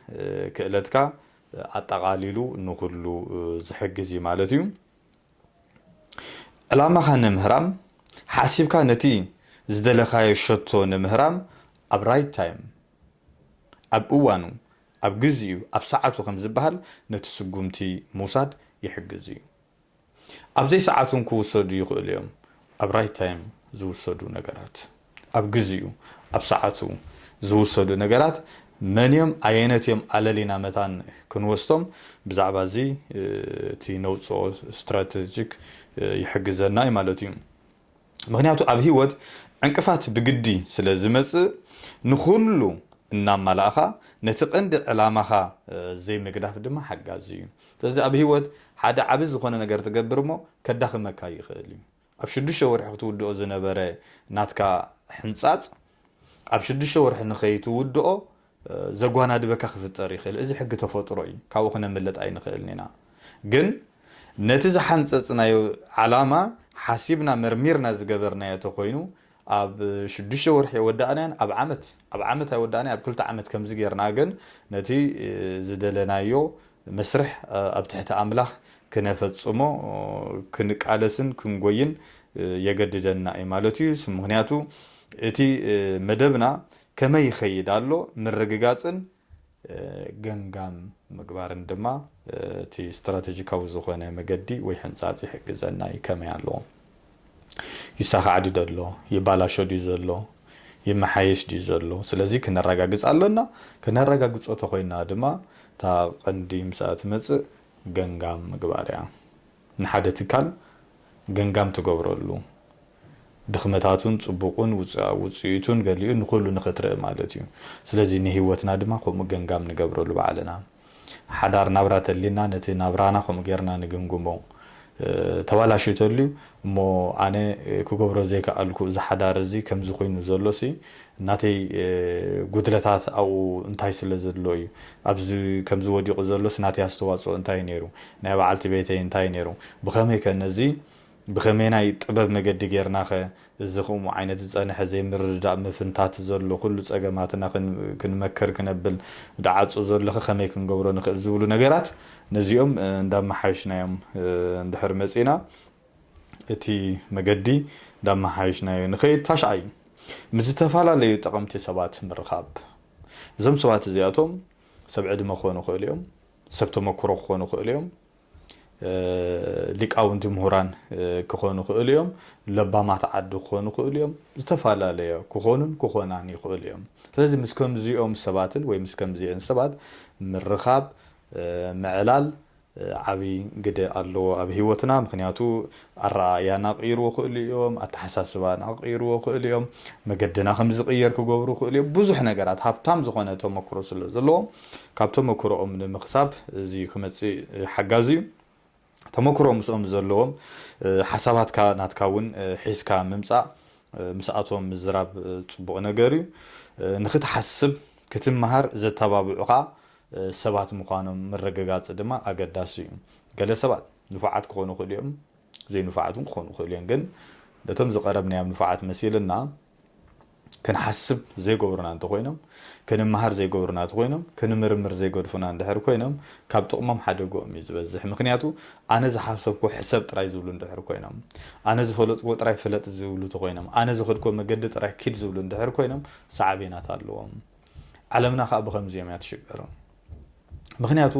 ክእለትካ ኣጠቓሊሉ ንኹሉ ዝሕግዝ እዩ ማለት እዩ። ዕላማኻ ንምህራም ሓሲብካ ነቲ ዝደለኻዮ ሸቶ ንምህራም ኣብ ራይት ታይም ኣብ እዋኑ ኣብ ግዚኡ ኣብ ሰዓቱ ከምዝበሃል ነቲ ስጉምቲ ምውሳድ ይሕግዝ እዩ። ኣብ ዘይሰዓት እውን ክውሰዱ ይኽእሉ እዮም። ኣብ ራይት ታይም ዝውሰዱ ነገራት፣ ኣብ ግዚኡ፣ ኣብ ሰዓቱ፣ ዝውሰዱ ነገራት መን እዮም ኣየነት እዮም ኣለሊና መታን ክንወስቶም ብዛዕባ እዚ እቲ ነውጽኦ ስትራተጂክ ይሕግዘና እዩ ማለት እዩ። ምኽንያቱ ኣብ ህይወት ዕንቅፋት ብግዲ ስለ ዝመጽእ ንኹሉ እናማላእኻ ነቲ ቀንዲ ዕላማኻ ዘይምግዳፍ ድማ ሓጋዚ እዩ። ስለዚ ኣብ ህይወት ሓደ ዓቢ ዝኾነ ነገር ትገብር እሞ ከዳኽመካ ይኽእል እዩ። ኣብ ሽዱሽተ ወርሒ ክትውድኦ ዝነበረ ናትካ ሕንጻጽ ኣብ ሽዱሽተ ወርሒ ንኸይትውድኦ ዘጓናድበካ ክፍጠር ይኽእል እዚ ሕጊ ተፈጥሮ እዩ ካብኡ ክነምልጥ ኣይንኽእልን ኢና ግን ነቲ ዝሓንጸጽናዮ ዓላማ ሓሲብና መርሚርና ዝገበርናዮ ተኾይኑ ኣብ ሽዱሽተ ወርሒ የወዳእናዮን ኣብ ዓመት ኣብ ዓመት ኣይወዳእናዮ ኣብ ክልተ ዓመት ከምዚ ጌርና ግን ነቲ ዝደለናዮ መስርሕ ኣብ ትሕቲ ኣምላኽ ክነፈጽሞ ክንቃለስን ክንጎይን የገድደና እዩ ማለት እዩ ምክንያቱ እቲ መደብና ከመይ ይኸይድ ኣሎ ምርግጋፅን ገምጋም ምግባርን ድማ እቲ ስትራተጂካዊ ዝኾነ መገዲ ወይ ሕንፃፅ ይሕግዘና እዩ። ከመይ ኣሎ? ይሳኻዕ ድዩ ዘሎ? ይባላሾ ድዩ ዘሎ? ይመሓየሽ ድዩ ዘሎ? ስለዚ ክነራጋግፅ ኣሎና። ከነራጋግፆ ተኾይንና ድማ እታ ቐንዲ ምስኣ ትመፅእ ገምጋም ምግባር እያ። ንሓደ ትካል ገምጋም ትገብረሉ ድኽመታቱን ጽቡቑን ውጽኢቱን ገሊኡ ንኹሉ ንኽትርኢ ማለት እዩ። ስለዚ ንህይወትና ድማ ከምኡ ገምጋም ንገብረሉ ባዕልና። ሓዳር ናብራ ተሊና ነቲ ናብራና ከምኡ ጌርና ንግምግሞ። ተባላሽዩ ተልዩ እሞ ኣነ ክገብሮ ዘይከኣልኩ እዚ ሓዳር እዚ ከምዚ ኮይኑ ዘሎሲ ናተይ ጉድለታት ኣብኡ እንታይ ስለ ዘሎ እዩ? ኣብዚ ከምዚ ወዲቑ ዘሎስ ናተይ ኣስተዋጽኦ እንታይ እዩ ነይሩ? ናይ በዓልቲ ቤተይ እንታይ እዩ ነይሩ? ብኸመይከ ነዚ ብኸመይናይ ጥበብ መገዲ ጌርናኸ እዚ ኹምኡ ዓይነት ዝጸንሐ ዘይምርድዳእ ምፍንታት ዘሎ ኩሉ ጸገማትና ክንመክር ክነብል ድዓጹ ዘሎኸ ከመይ ክንገብሮ ንኽእል ዝብሉ ነገራት ነዚኦም እንዳመሓየሽናዮም እንድሕር መጺእና እቲ መገዲ እንዳመሓየሽናዮ ንኸይድ። ታሽዓይ፣ ምስ ዝተፈላለዩ ጠቐምቲ ሰባት ምርኻብ። እዞም ሰባት እዚኣቶም ሰብ ዕድመ ክኾኑ ይኽእሉ እዮም፣ ሰብ ተመኩሮ ክኾኑ ይኽእሉ እዮም፣ ሊቃውንቲ ምሁራን ክኾኑ ይኽእሉ እዮም፣ ለባማት ዓዲ ክኾኑ ይኽእሉ እዮም፣ ዝተፈላለየ ክኾኑን ክኾናን ይኽእሉ እዮም። ስለዚ ምስ ከምዚኦም ሰባትን ወይ ምስ ከምዚኤን ሰባት ምርኻብ፣ ምዕላል፣ ዓቢ ግደ ኣለዎ ኣብ ሂወትና ምክንያቱ ኣረኣእያና ክቅይርዎ ክእሉ እዮም ኣተሓሳስባና ክቅይርዎ ክእሉ እዮም መገድና ከም ዝቅየር ክገብሩ ክእሉ እዮም ብዙሕ ነገራት ሃብታም ዝኮነ ተመክሮ ስለ ዘለዎም ካብ ተመክሮኦም ንምክሳብ እዚ ክመጽእ ሓጋዚ እዩ ተመክሮ ምስኦም ዘለዎም ሓሳባትካ ናትካ ውን ሒዝካ ምምጻእ ምስኣቶም ምዝራብ ጽቡቅ ነገር እዩ ንክትሓስብ ክትመሃር ዘተባብዑካ ሰባት ምዃኖም ምርግጋጽ ድማ ኣገዳሲ እዩ። ገለ ሰባት ንፉዓት ክኾኑ ይኽእሉ እዮም፣ ዘይንፉዓት እውን ክኾኑ ይኽእሉ እዮም። ግን ነቶም ዝቐረብናዮም ንፉዓት መሲልና ክንሓስብ ዘይገብሩና እንተኾይኖም፣ ክንመሃር ዘይገብሩና እተኾይኖም፣ ክንምርምር ዘይገድፉና እንድሕር ኮይኖም፣ ካብ ጥቕሞም ሓደግኦም እዩ ዝበዝሕ። ምኽንያቱ ኣነ ዝሓሰብኩዎ ሕሰብ ጥራይ ዝብሉ እንድሕር ኮይኖም፣ ኣነ ዝፈለጥኩዎ ጥራይ ፍለጥ ዝብሉ እተኾይኖም፣ ኣነ ዝኸድኩዎ መገዲ ጥራይ ኪድ ዝብሉ እንድሕር ኮይኖም ሳዕቤናት ኣለዎም። ዓለምና ከኣ ብኸምዚኦም እያ ትሽገር ምኽንያቱ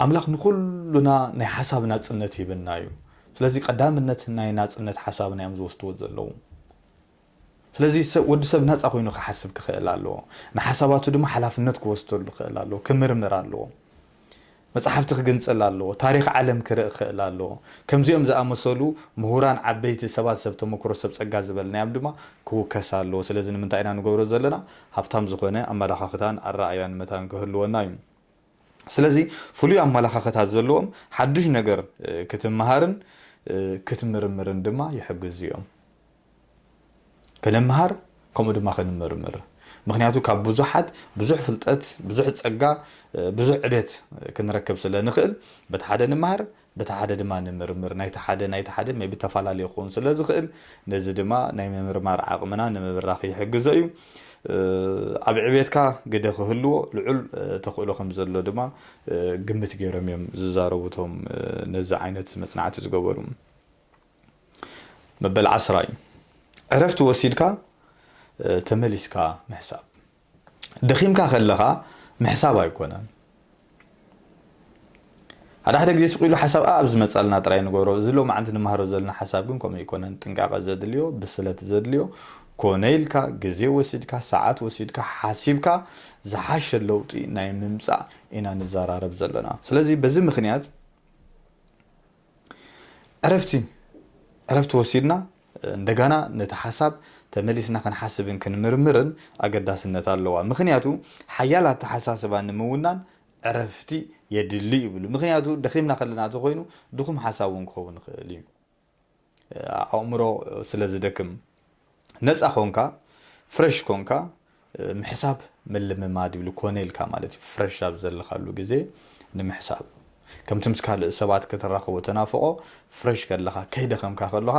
ኣምላኽ ንኹሉና ናይ ሓሳብ ናጽነት ሂብና እዩ ስለዚ ቀዳምነት ናይ ናጽነት ሓሳብና እዮም ዝወስድዎ ዘለዉ ስለዚ ወዲ ሰብ ናፃ ኮይኑ ክሓስብ ክኽእል ኣለዎ ንሓሳባቱ ድማ ሓላፍነት ክወስደሉ ክእል ኣለዎ ክምርምር ኣለዎ መጻሕፍቲ ክግንጽል ኣለዎ፣ ታሪኽ ዓለም ክርኢ ክኽእል ኣለዎ። ከምዚኦም ዝኣመሰሉ ምሁራን፣ ዓበይቲ ሰባት፣ ሰብ ተመክሮ፣ ሰብ ጸጋ ዝበልናዮም ድማ ክውከስ ኣለዎ። ስለዚ ንምንታይ ኢና ንገብሮ ዘለና? ሃብታም ዝኾነ ኣመላኻኽታን ኣረኣእያን መታን ክህልወና እዩ። ስለዚ ፍሉይ ኣመላኻኽታ ዘለዎም ሓዱሽ ነገር ክትመሃርን ክትምርምርን ድማ ይሕግዙ እዮም። ክንምሃር ከምኡ ድማ ክንምርምር ምክንያቱ ካብ ብዙሓት ብዙሕ ፍልጠት ብዙሕ ጸጋ ብዙሕ ዕቤት ክንረክብ ስለ ንኽእል በቲ ሓደ ንምሃር በቲ ሓደ ድማ ንምርምር ናይቲ ሓደ ናይቲ ሓደ ሜቢ ተፈላለየ ክኸውን ስለ ዝኽእል ነዚ ድማ ናይ ምምርማር ዓቕምና ንምብራኽ ይሕግዞ እዩ ኣብ ዕቤትካ ግደ ክህልዎ ልዑል ተኽእሎ ከም ዘሎ ድማ ግምት ገይሮም እዮም ዝዛረቡ እቶም ነዚ ዓይነት መጽናዕቲ ዝገበሩ መበል ዓስራ እዩ ዕረፍቲ ወሲድካ ተመሊስካ ምሕሳብ ደኺምካ ከለኻ ምሕሳብ ኣይኮነን ሓደ ሓደ ግዜ ስቂሉ ሓሳብ ኣብ ዝመፃልና ጥራይ ንገብሮ እዚ ሎማዓንቲ ንመሃሮ ዘለና ሓሳብ ግን ከምኡ ኣይኮነን ጥንቃቐ ዘድልዮ ብስለት ዘድልዮ ኮነ ኢልካ ግዜ ወሲድካ ሰዓት ወሲድካ ሓሲብካ ዝሓሸ ለውጢ ናይ ምምፃእ ኢና ንዘራረብ ዘለና ስለዚ በዚ ምክንያት ዕረፍቲ ዕረፍቲ ወሲድና እንደጋና ነቲ ሓሳብ ተመሊስና ክንሓስብን ክንምርምርን ኣገዳስነት ኣለዋ። ምኽንያቱ ሓያል ኣተሓሳስባ ንምውናን ዕረፍቲ የድሊ ይብሉ። ምኽንያቱ ደኺምና ከለና ተኾይኑ ድኹም ሓሳብ እውን ክኸውን ይኽእል እዩ። ኣእምሮ ስለ ዝደክም። ነጻ ኮንካ ፍረሽ ኮንካ ምሕሳብ ምልምማድ ይብሉ ኮነ ኢልካ ማለት እዩ ፍረሽ ኣብ ዘለኻሉ ግዜ ንምሕሳብ ከምቲ ምስ ካልእ ሰባት ከተራኽቦ ተናፍቆ ፍረሽ ከለኻ ከይደኸምካ ከለኻ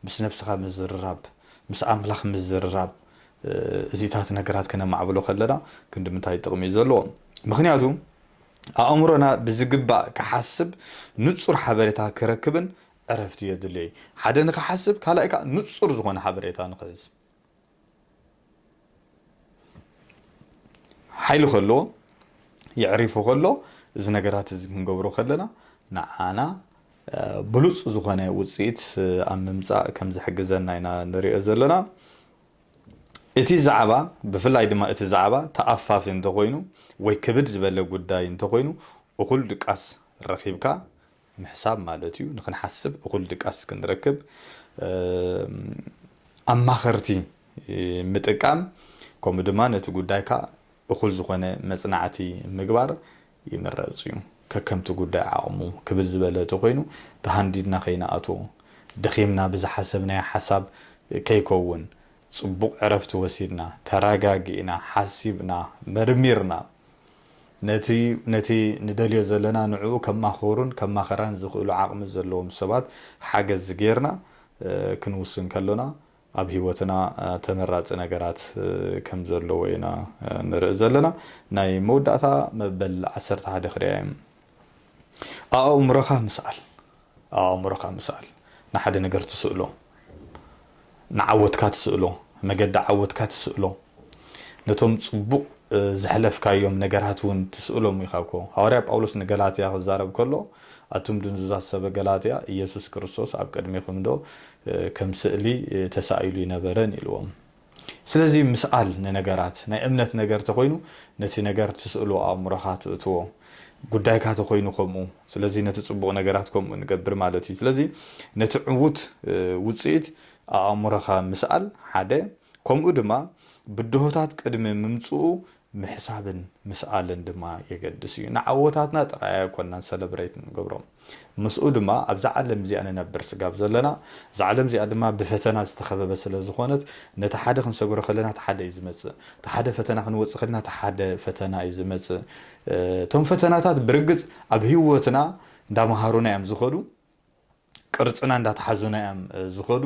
ምስ ነብስኻ ምዝርራብ ምስ ኣምላኽ ምዝርራብ እዚታት ነገራት ከነማዕብሎ ከለና ክንዲ ምንታይ ጥቕሚ እዩ ዘለዎ ምክንያቱ ኣእምሮና ብዝግባእ ክሓስብ ንጹር ሓበሬታ ክረክብን ዕረፍቲ የድልዮ እዩ። ሓደ ንኽሓስብ ካልኣይ ከኣ ንጹር ዝኾነ ሓበሬታ ንኽሕዝ ሓይሊ ከለዎ የዕሪፉ ከሎ እዚ ነገራት እዚ ክንገብሮ ከለና ንዓና ብሉጽ ዝኾነ ውጽኢት ኣብ ምምጻእ ከም ዝሕግዘና ኢና ንሪኦ ዘለና እቲ ዛዕባ ብፍላይ ድማ እቲ ዛዕባ ተኣፋፊ እንተኾይኑ ወይ ክብድ ዝበለ ጉዳይ እንተኾይኑ እኹል ድቃስ ረኺብካ ምሕሳብ ማለት እዩ ንክንሓስብ እኹል ድቃስ ክንረክብ ኣማኸርቲ ምጥቃም ከምኡ ድማ ነቲ ጉዳይካ እኹል ዝኾነ መጽናዕቲ ምግባር ይምረጽ እዩ ከከምቲ ጉዳይ ዓቕሙ ክብል ዝበለ ተኮይኑ ተሃንዲድና ከይንኣትዎ ደኺምና ብዝሓሰብናዮ ሓሳብ ከይከውን ጽቡቕ ዕረፍቲ ወሲድና ተረጋጊእና ሓሲብና መርሚርና ነቲ ነቲ ንደልዮ ዘለና ንዕኡ ከማኸሩን ከማኸራን ዝኽእሉ ዓቕሚ ዘለዎም ሰባት ሓገዝ ጌርና ክንውስን ከሎና ኣብ ህይወትና ተመራጺ ነገራት ከም ዘለዎ ኢና ንርኢ ዘለና። ናይ መውዳእታ መበል ዓሰርተ ሓደ ክርያዮም ኣኣእምሮኻ ምስኣል። ኣብ ኣእምሮኻ ምሰኣል። ንሓደ ነገር ትስእሎ። ንዓወትካ ትስእሎ። መገዲ ዓወትካ ትስእሎ። ነቶም ጽቡቕ ዘሕለፍካዮም ነገራት እውን ትስእሎም ኢኻ እኮ። ሃዋርያ ጳውሎስ ንገላትያ ክዛረብ ከሎ፣ ኣቱም ድንዙዛት ሰበ ገላትያ፣ ኢየሱስ ክርስቶስ ኣብ ቅድሜኹምዶ ከም ስእሊ ተሳኢሉ ኣይነበረን? ኢልዎም። ስለዚ ምስኣል ንነገራት ናይ እምነት ነገር ተኾይኑ ነቲ ነገር ትስእሎ ኣእምሮኻ ትእትዎ ጉዳይካ ተኾይኑ ከምኡ ስለዚ ነቲ ጽቡቕ ነገራት ከምኡ ንገብር ማለት እዩ ስለዚ ነቲ ዕዉት ውጽኢት ኣእምሮኻ ምስኣል ሓደ ከምኡ ድማ ብድሆታት ቅድሚ ምምጽኡ ምሕሳብን ምስኣልን ድማ የገድስ እዩ። ንዓወታትና ጥራይ ኣይኮናን ሰለብረይት እንገብሮ፣ ምስኡ ድማ ኣብዛ ዓለም እዚኣ ንነብር ስጋብ ዘለና፣ እዛ ዓለም እዚኣ ድማ ብፈተና ዝተኸበበት ስለ ዝኾነት፣ ነቲ ሓደ ክንሰግሮ ከለና እቲ ሓደ እዩ ዝመጽእ፣ እቲ ሓደ ፈተና ክንወጽእ ከለና እቲ ሓደ ፈተና እዩ ዝመጽእ፣ እቶም ፈተናታት ብርግጽ ኣብ ህይወትና እንዳመሃሩና እዮም ዝኸዱ፣ ቅርጽና እንዳተሓዙና እዮም ዝኸዱ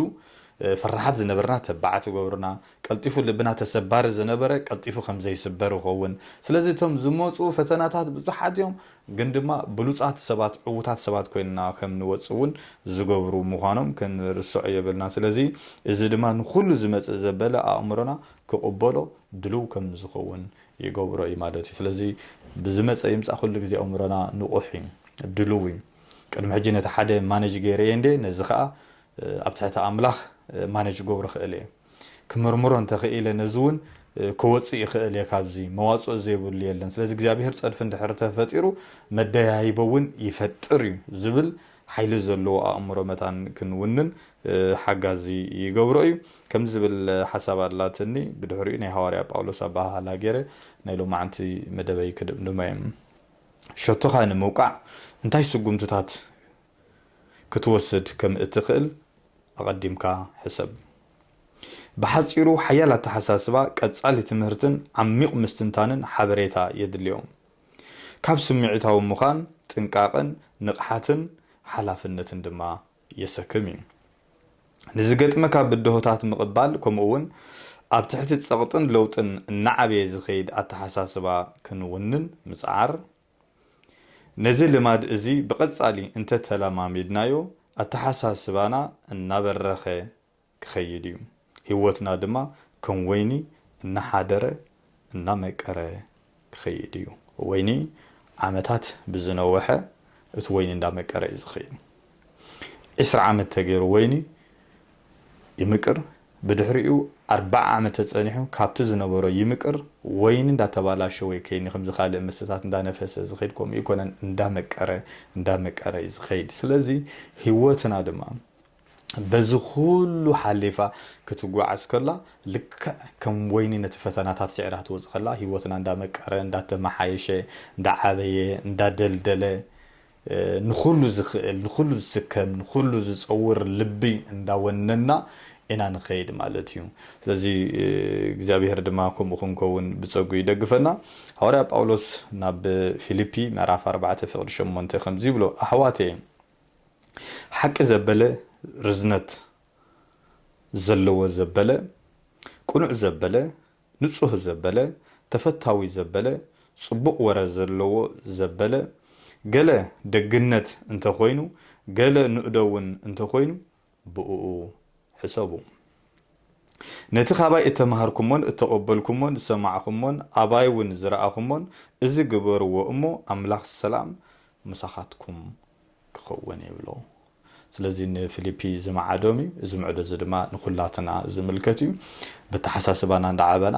ፈራሓት ዝነበርና ተባዓት ይገብሩና ቀልጢፉ ልብና ተሰባሪ ዝነበረ ቀልጢፉ ከም ዘይስበር ይኸውን ስለዚ እቶም ዝመጹ ፈተናታት ብዙሓት እዮም ግን ድማ ብሉጻት ሰባት ዕውታት ሰባት ኮይንና ከም ንወጽእ እውን ዝገብሩ ምዃኖም ክንርሰዖ የብልና ስለዚ እዚ ድማ ንኹሉ ዝመጽእ ዘበለ ኣእምሮና ክቕበሎ ድሉው ከም ዝኸውን ይገብሮ እዩ ማለት እዩ ስለዚ ብዝመጸ ይምጻእ ኩሉ ግዜ ኣእምሮና ንቑሕ እዩ ድሉው እዩ ቅድሚ ሕጂ ነቲ ሓደ ማነጅ ገይረዬ እንዴ ነዚ ከኣ ኣብ ትሕቲ ኣምላኽ ማነጅ ክገብሮ ክእል እየ ክምርምሮ እንተ ክኢለ ነዚ ውን ክወጽእ ይክእል እየ ካብዚ መዋጽኦ ዘይብሉ የለን ስለዚ እግዚኣብሄር ጸድፊ እንድሕር ተፈጢሩ መደያይቦ ውን ይፈጥር እዩ ዝብል ሓይሊ ዘለዎ ኣእምሮ መታን ክንውንን ሓጋዚ ይገብሮ እዩ ከምዚ ዝብል ሓሳብ ኣላትኒ ብድሕሪኡ ናይ ሃዋርያ ጳውሎስ ኣበሃህላ ገይረ ናይ ሎማዓንቲ መደበይ ክድምድሞ እየ። ሸቶኻ ንምውቃዕ እንታይ ስጉምትታት ክትወስድ ከም እትኽእል ኣቐዲምካ ሕሰብ። ብሓጺሩ ሓያል ኣተሓሳስባ፣ ቀጻሊ ትምህርትን ዓሚቝ ምስትንታንን ሓበሬታ የድልዮም። ካብ ስምዒታዊ ምዃን ጥንቃቐን ንቕሓትን ሓላፍነትን ድማ የሰክም እዩ። ንዝገጥመካ ብድሆታት ምቕባል ከምኡ'ውን ኣብ ትሕቲ ጸቕጥን ለውጥን እናዓበየ ዝኸይድ ኣተሓሳስባ ክንውንን ምጽዓር። ነዚ ልማድ እዚ ብቐጻሊ እንተተለማሚድናዮ ኣተሓሳስባና እናበረኸ ክኸይድ እዩ። ህይወትና ድማ ከም ወይኒ እናሓደረ እናመቀረ ክኸይድ እዩ። ወይኒ ዓመታት ብዝነወሐ እቲ ወይኒ እንዳመቀረ እዩ ዝኸይድ። ዕስራ ዓመት ተገይሩ ወይኒ ይምቅር ብድሕሪኡ ኣርባዓ ዓመት ተፀኒሑ ካብቲ ዝነበሮ ይምቅር ወይኒ እንዳተባላሸወ እዩ ከይኒ ከምዚ ካልእ መስተታት እንዳነፈሰ ዝኸይድ ከምኡ ኣይኮነን እንዳመቀረ እንዳመቀረ እዩ ዝኸይድ። ስለዚ ህይወትና ድማ በዚ ዅሉ ሓሊፋ ክትጓዓዝ ከላ፣ ልክዕ ከም ወይኒ ነቲ ፈተናታት ስዒራ ትወጽእ ከላ፣ ህይወትና እንዳመቀረ፣ እንዳተመሓየሸ፣ እንዳዓበየ፣ እንዳደልደለ፣ ንዅሉ ዝኽእል፣ ንዅሉ ዝስከም፣ ንዅሉ ዝጸውር ልቢ እንዳወነንና ኢና ንኸይድ ማለት እዩ። ስለዚ እግዚኣብሄር ድማ ከምኡ ክንከውን ብጸግኡ ይደግፈና። ሃዋርያ ጳውሎስ ናብ ፊልፒ ምዕራፍ ኣርባዕተ ፍቕዲ ሸሞንተ ከምዚ ይብሎ፣ ኣሕዋተየ፣ ሓቂ ዘበለ ርዝነት ዘለዎ ዘበለ ቅኑዕ ዘበለ ንጹህ ዘበለ ተፈታዊ ዘበለ ጽቡቕ ወረ ዘለዎ ዘበለ ገለ ደግነት እንተ ኾይኑ ገለ ንእዶ ውን እንተ ኾይኑ ብእኡ ሕሰቡ። ነቲ ኻባይ እተማህርኩሞን እተቐበልኩሞን ዝሰማዕኹሞን ኣባይውን ዝረኣኹሞን እዚ ግበርዎ እሞ ኣምላኽ ሰላም ምሳኻትኩም ክኸውን ይብሎ። ስለዚ ንፊሊፒ ዝመዓዶም እዩ። እዚ ምዕዶ እዚ ድማ ንኹላትና ዝምልከት እዩ። በተሓሳስባና እንዳዓበና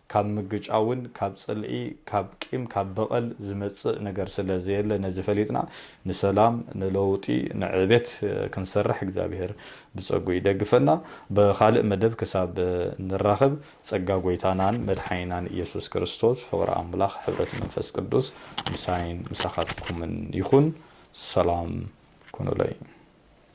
ካብ ምግጫውን ካብ ጽልኢ ካብ ቂም ካብ በቐል ዝመጽእ ነገር ስለ ዘየለ ነዚ ፈሊጥና ንሰላም ንለውጢ ንዕቤት ክንሰርሕ እግዚኣብሄር ብጸግኡ ይደግፈና ብኻልእ መደብ ክሳብ ንራኸብ ጸጋ ጎይታናን መድሓኒናን እየሱስ ክርስቶስ ፍቕሪ ኣምላኽ ሕብረት መንፈስ ቅዱስ ምሳይን ምሳኻትኩምን ይኹን ሰላም ኩኑለይ።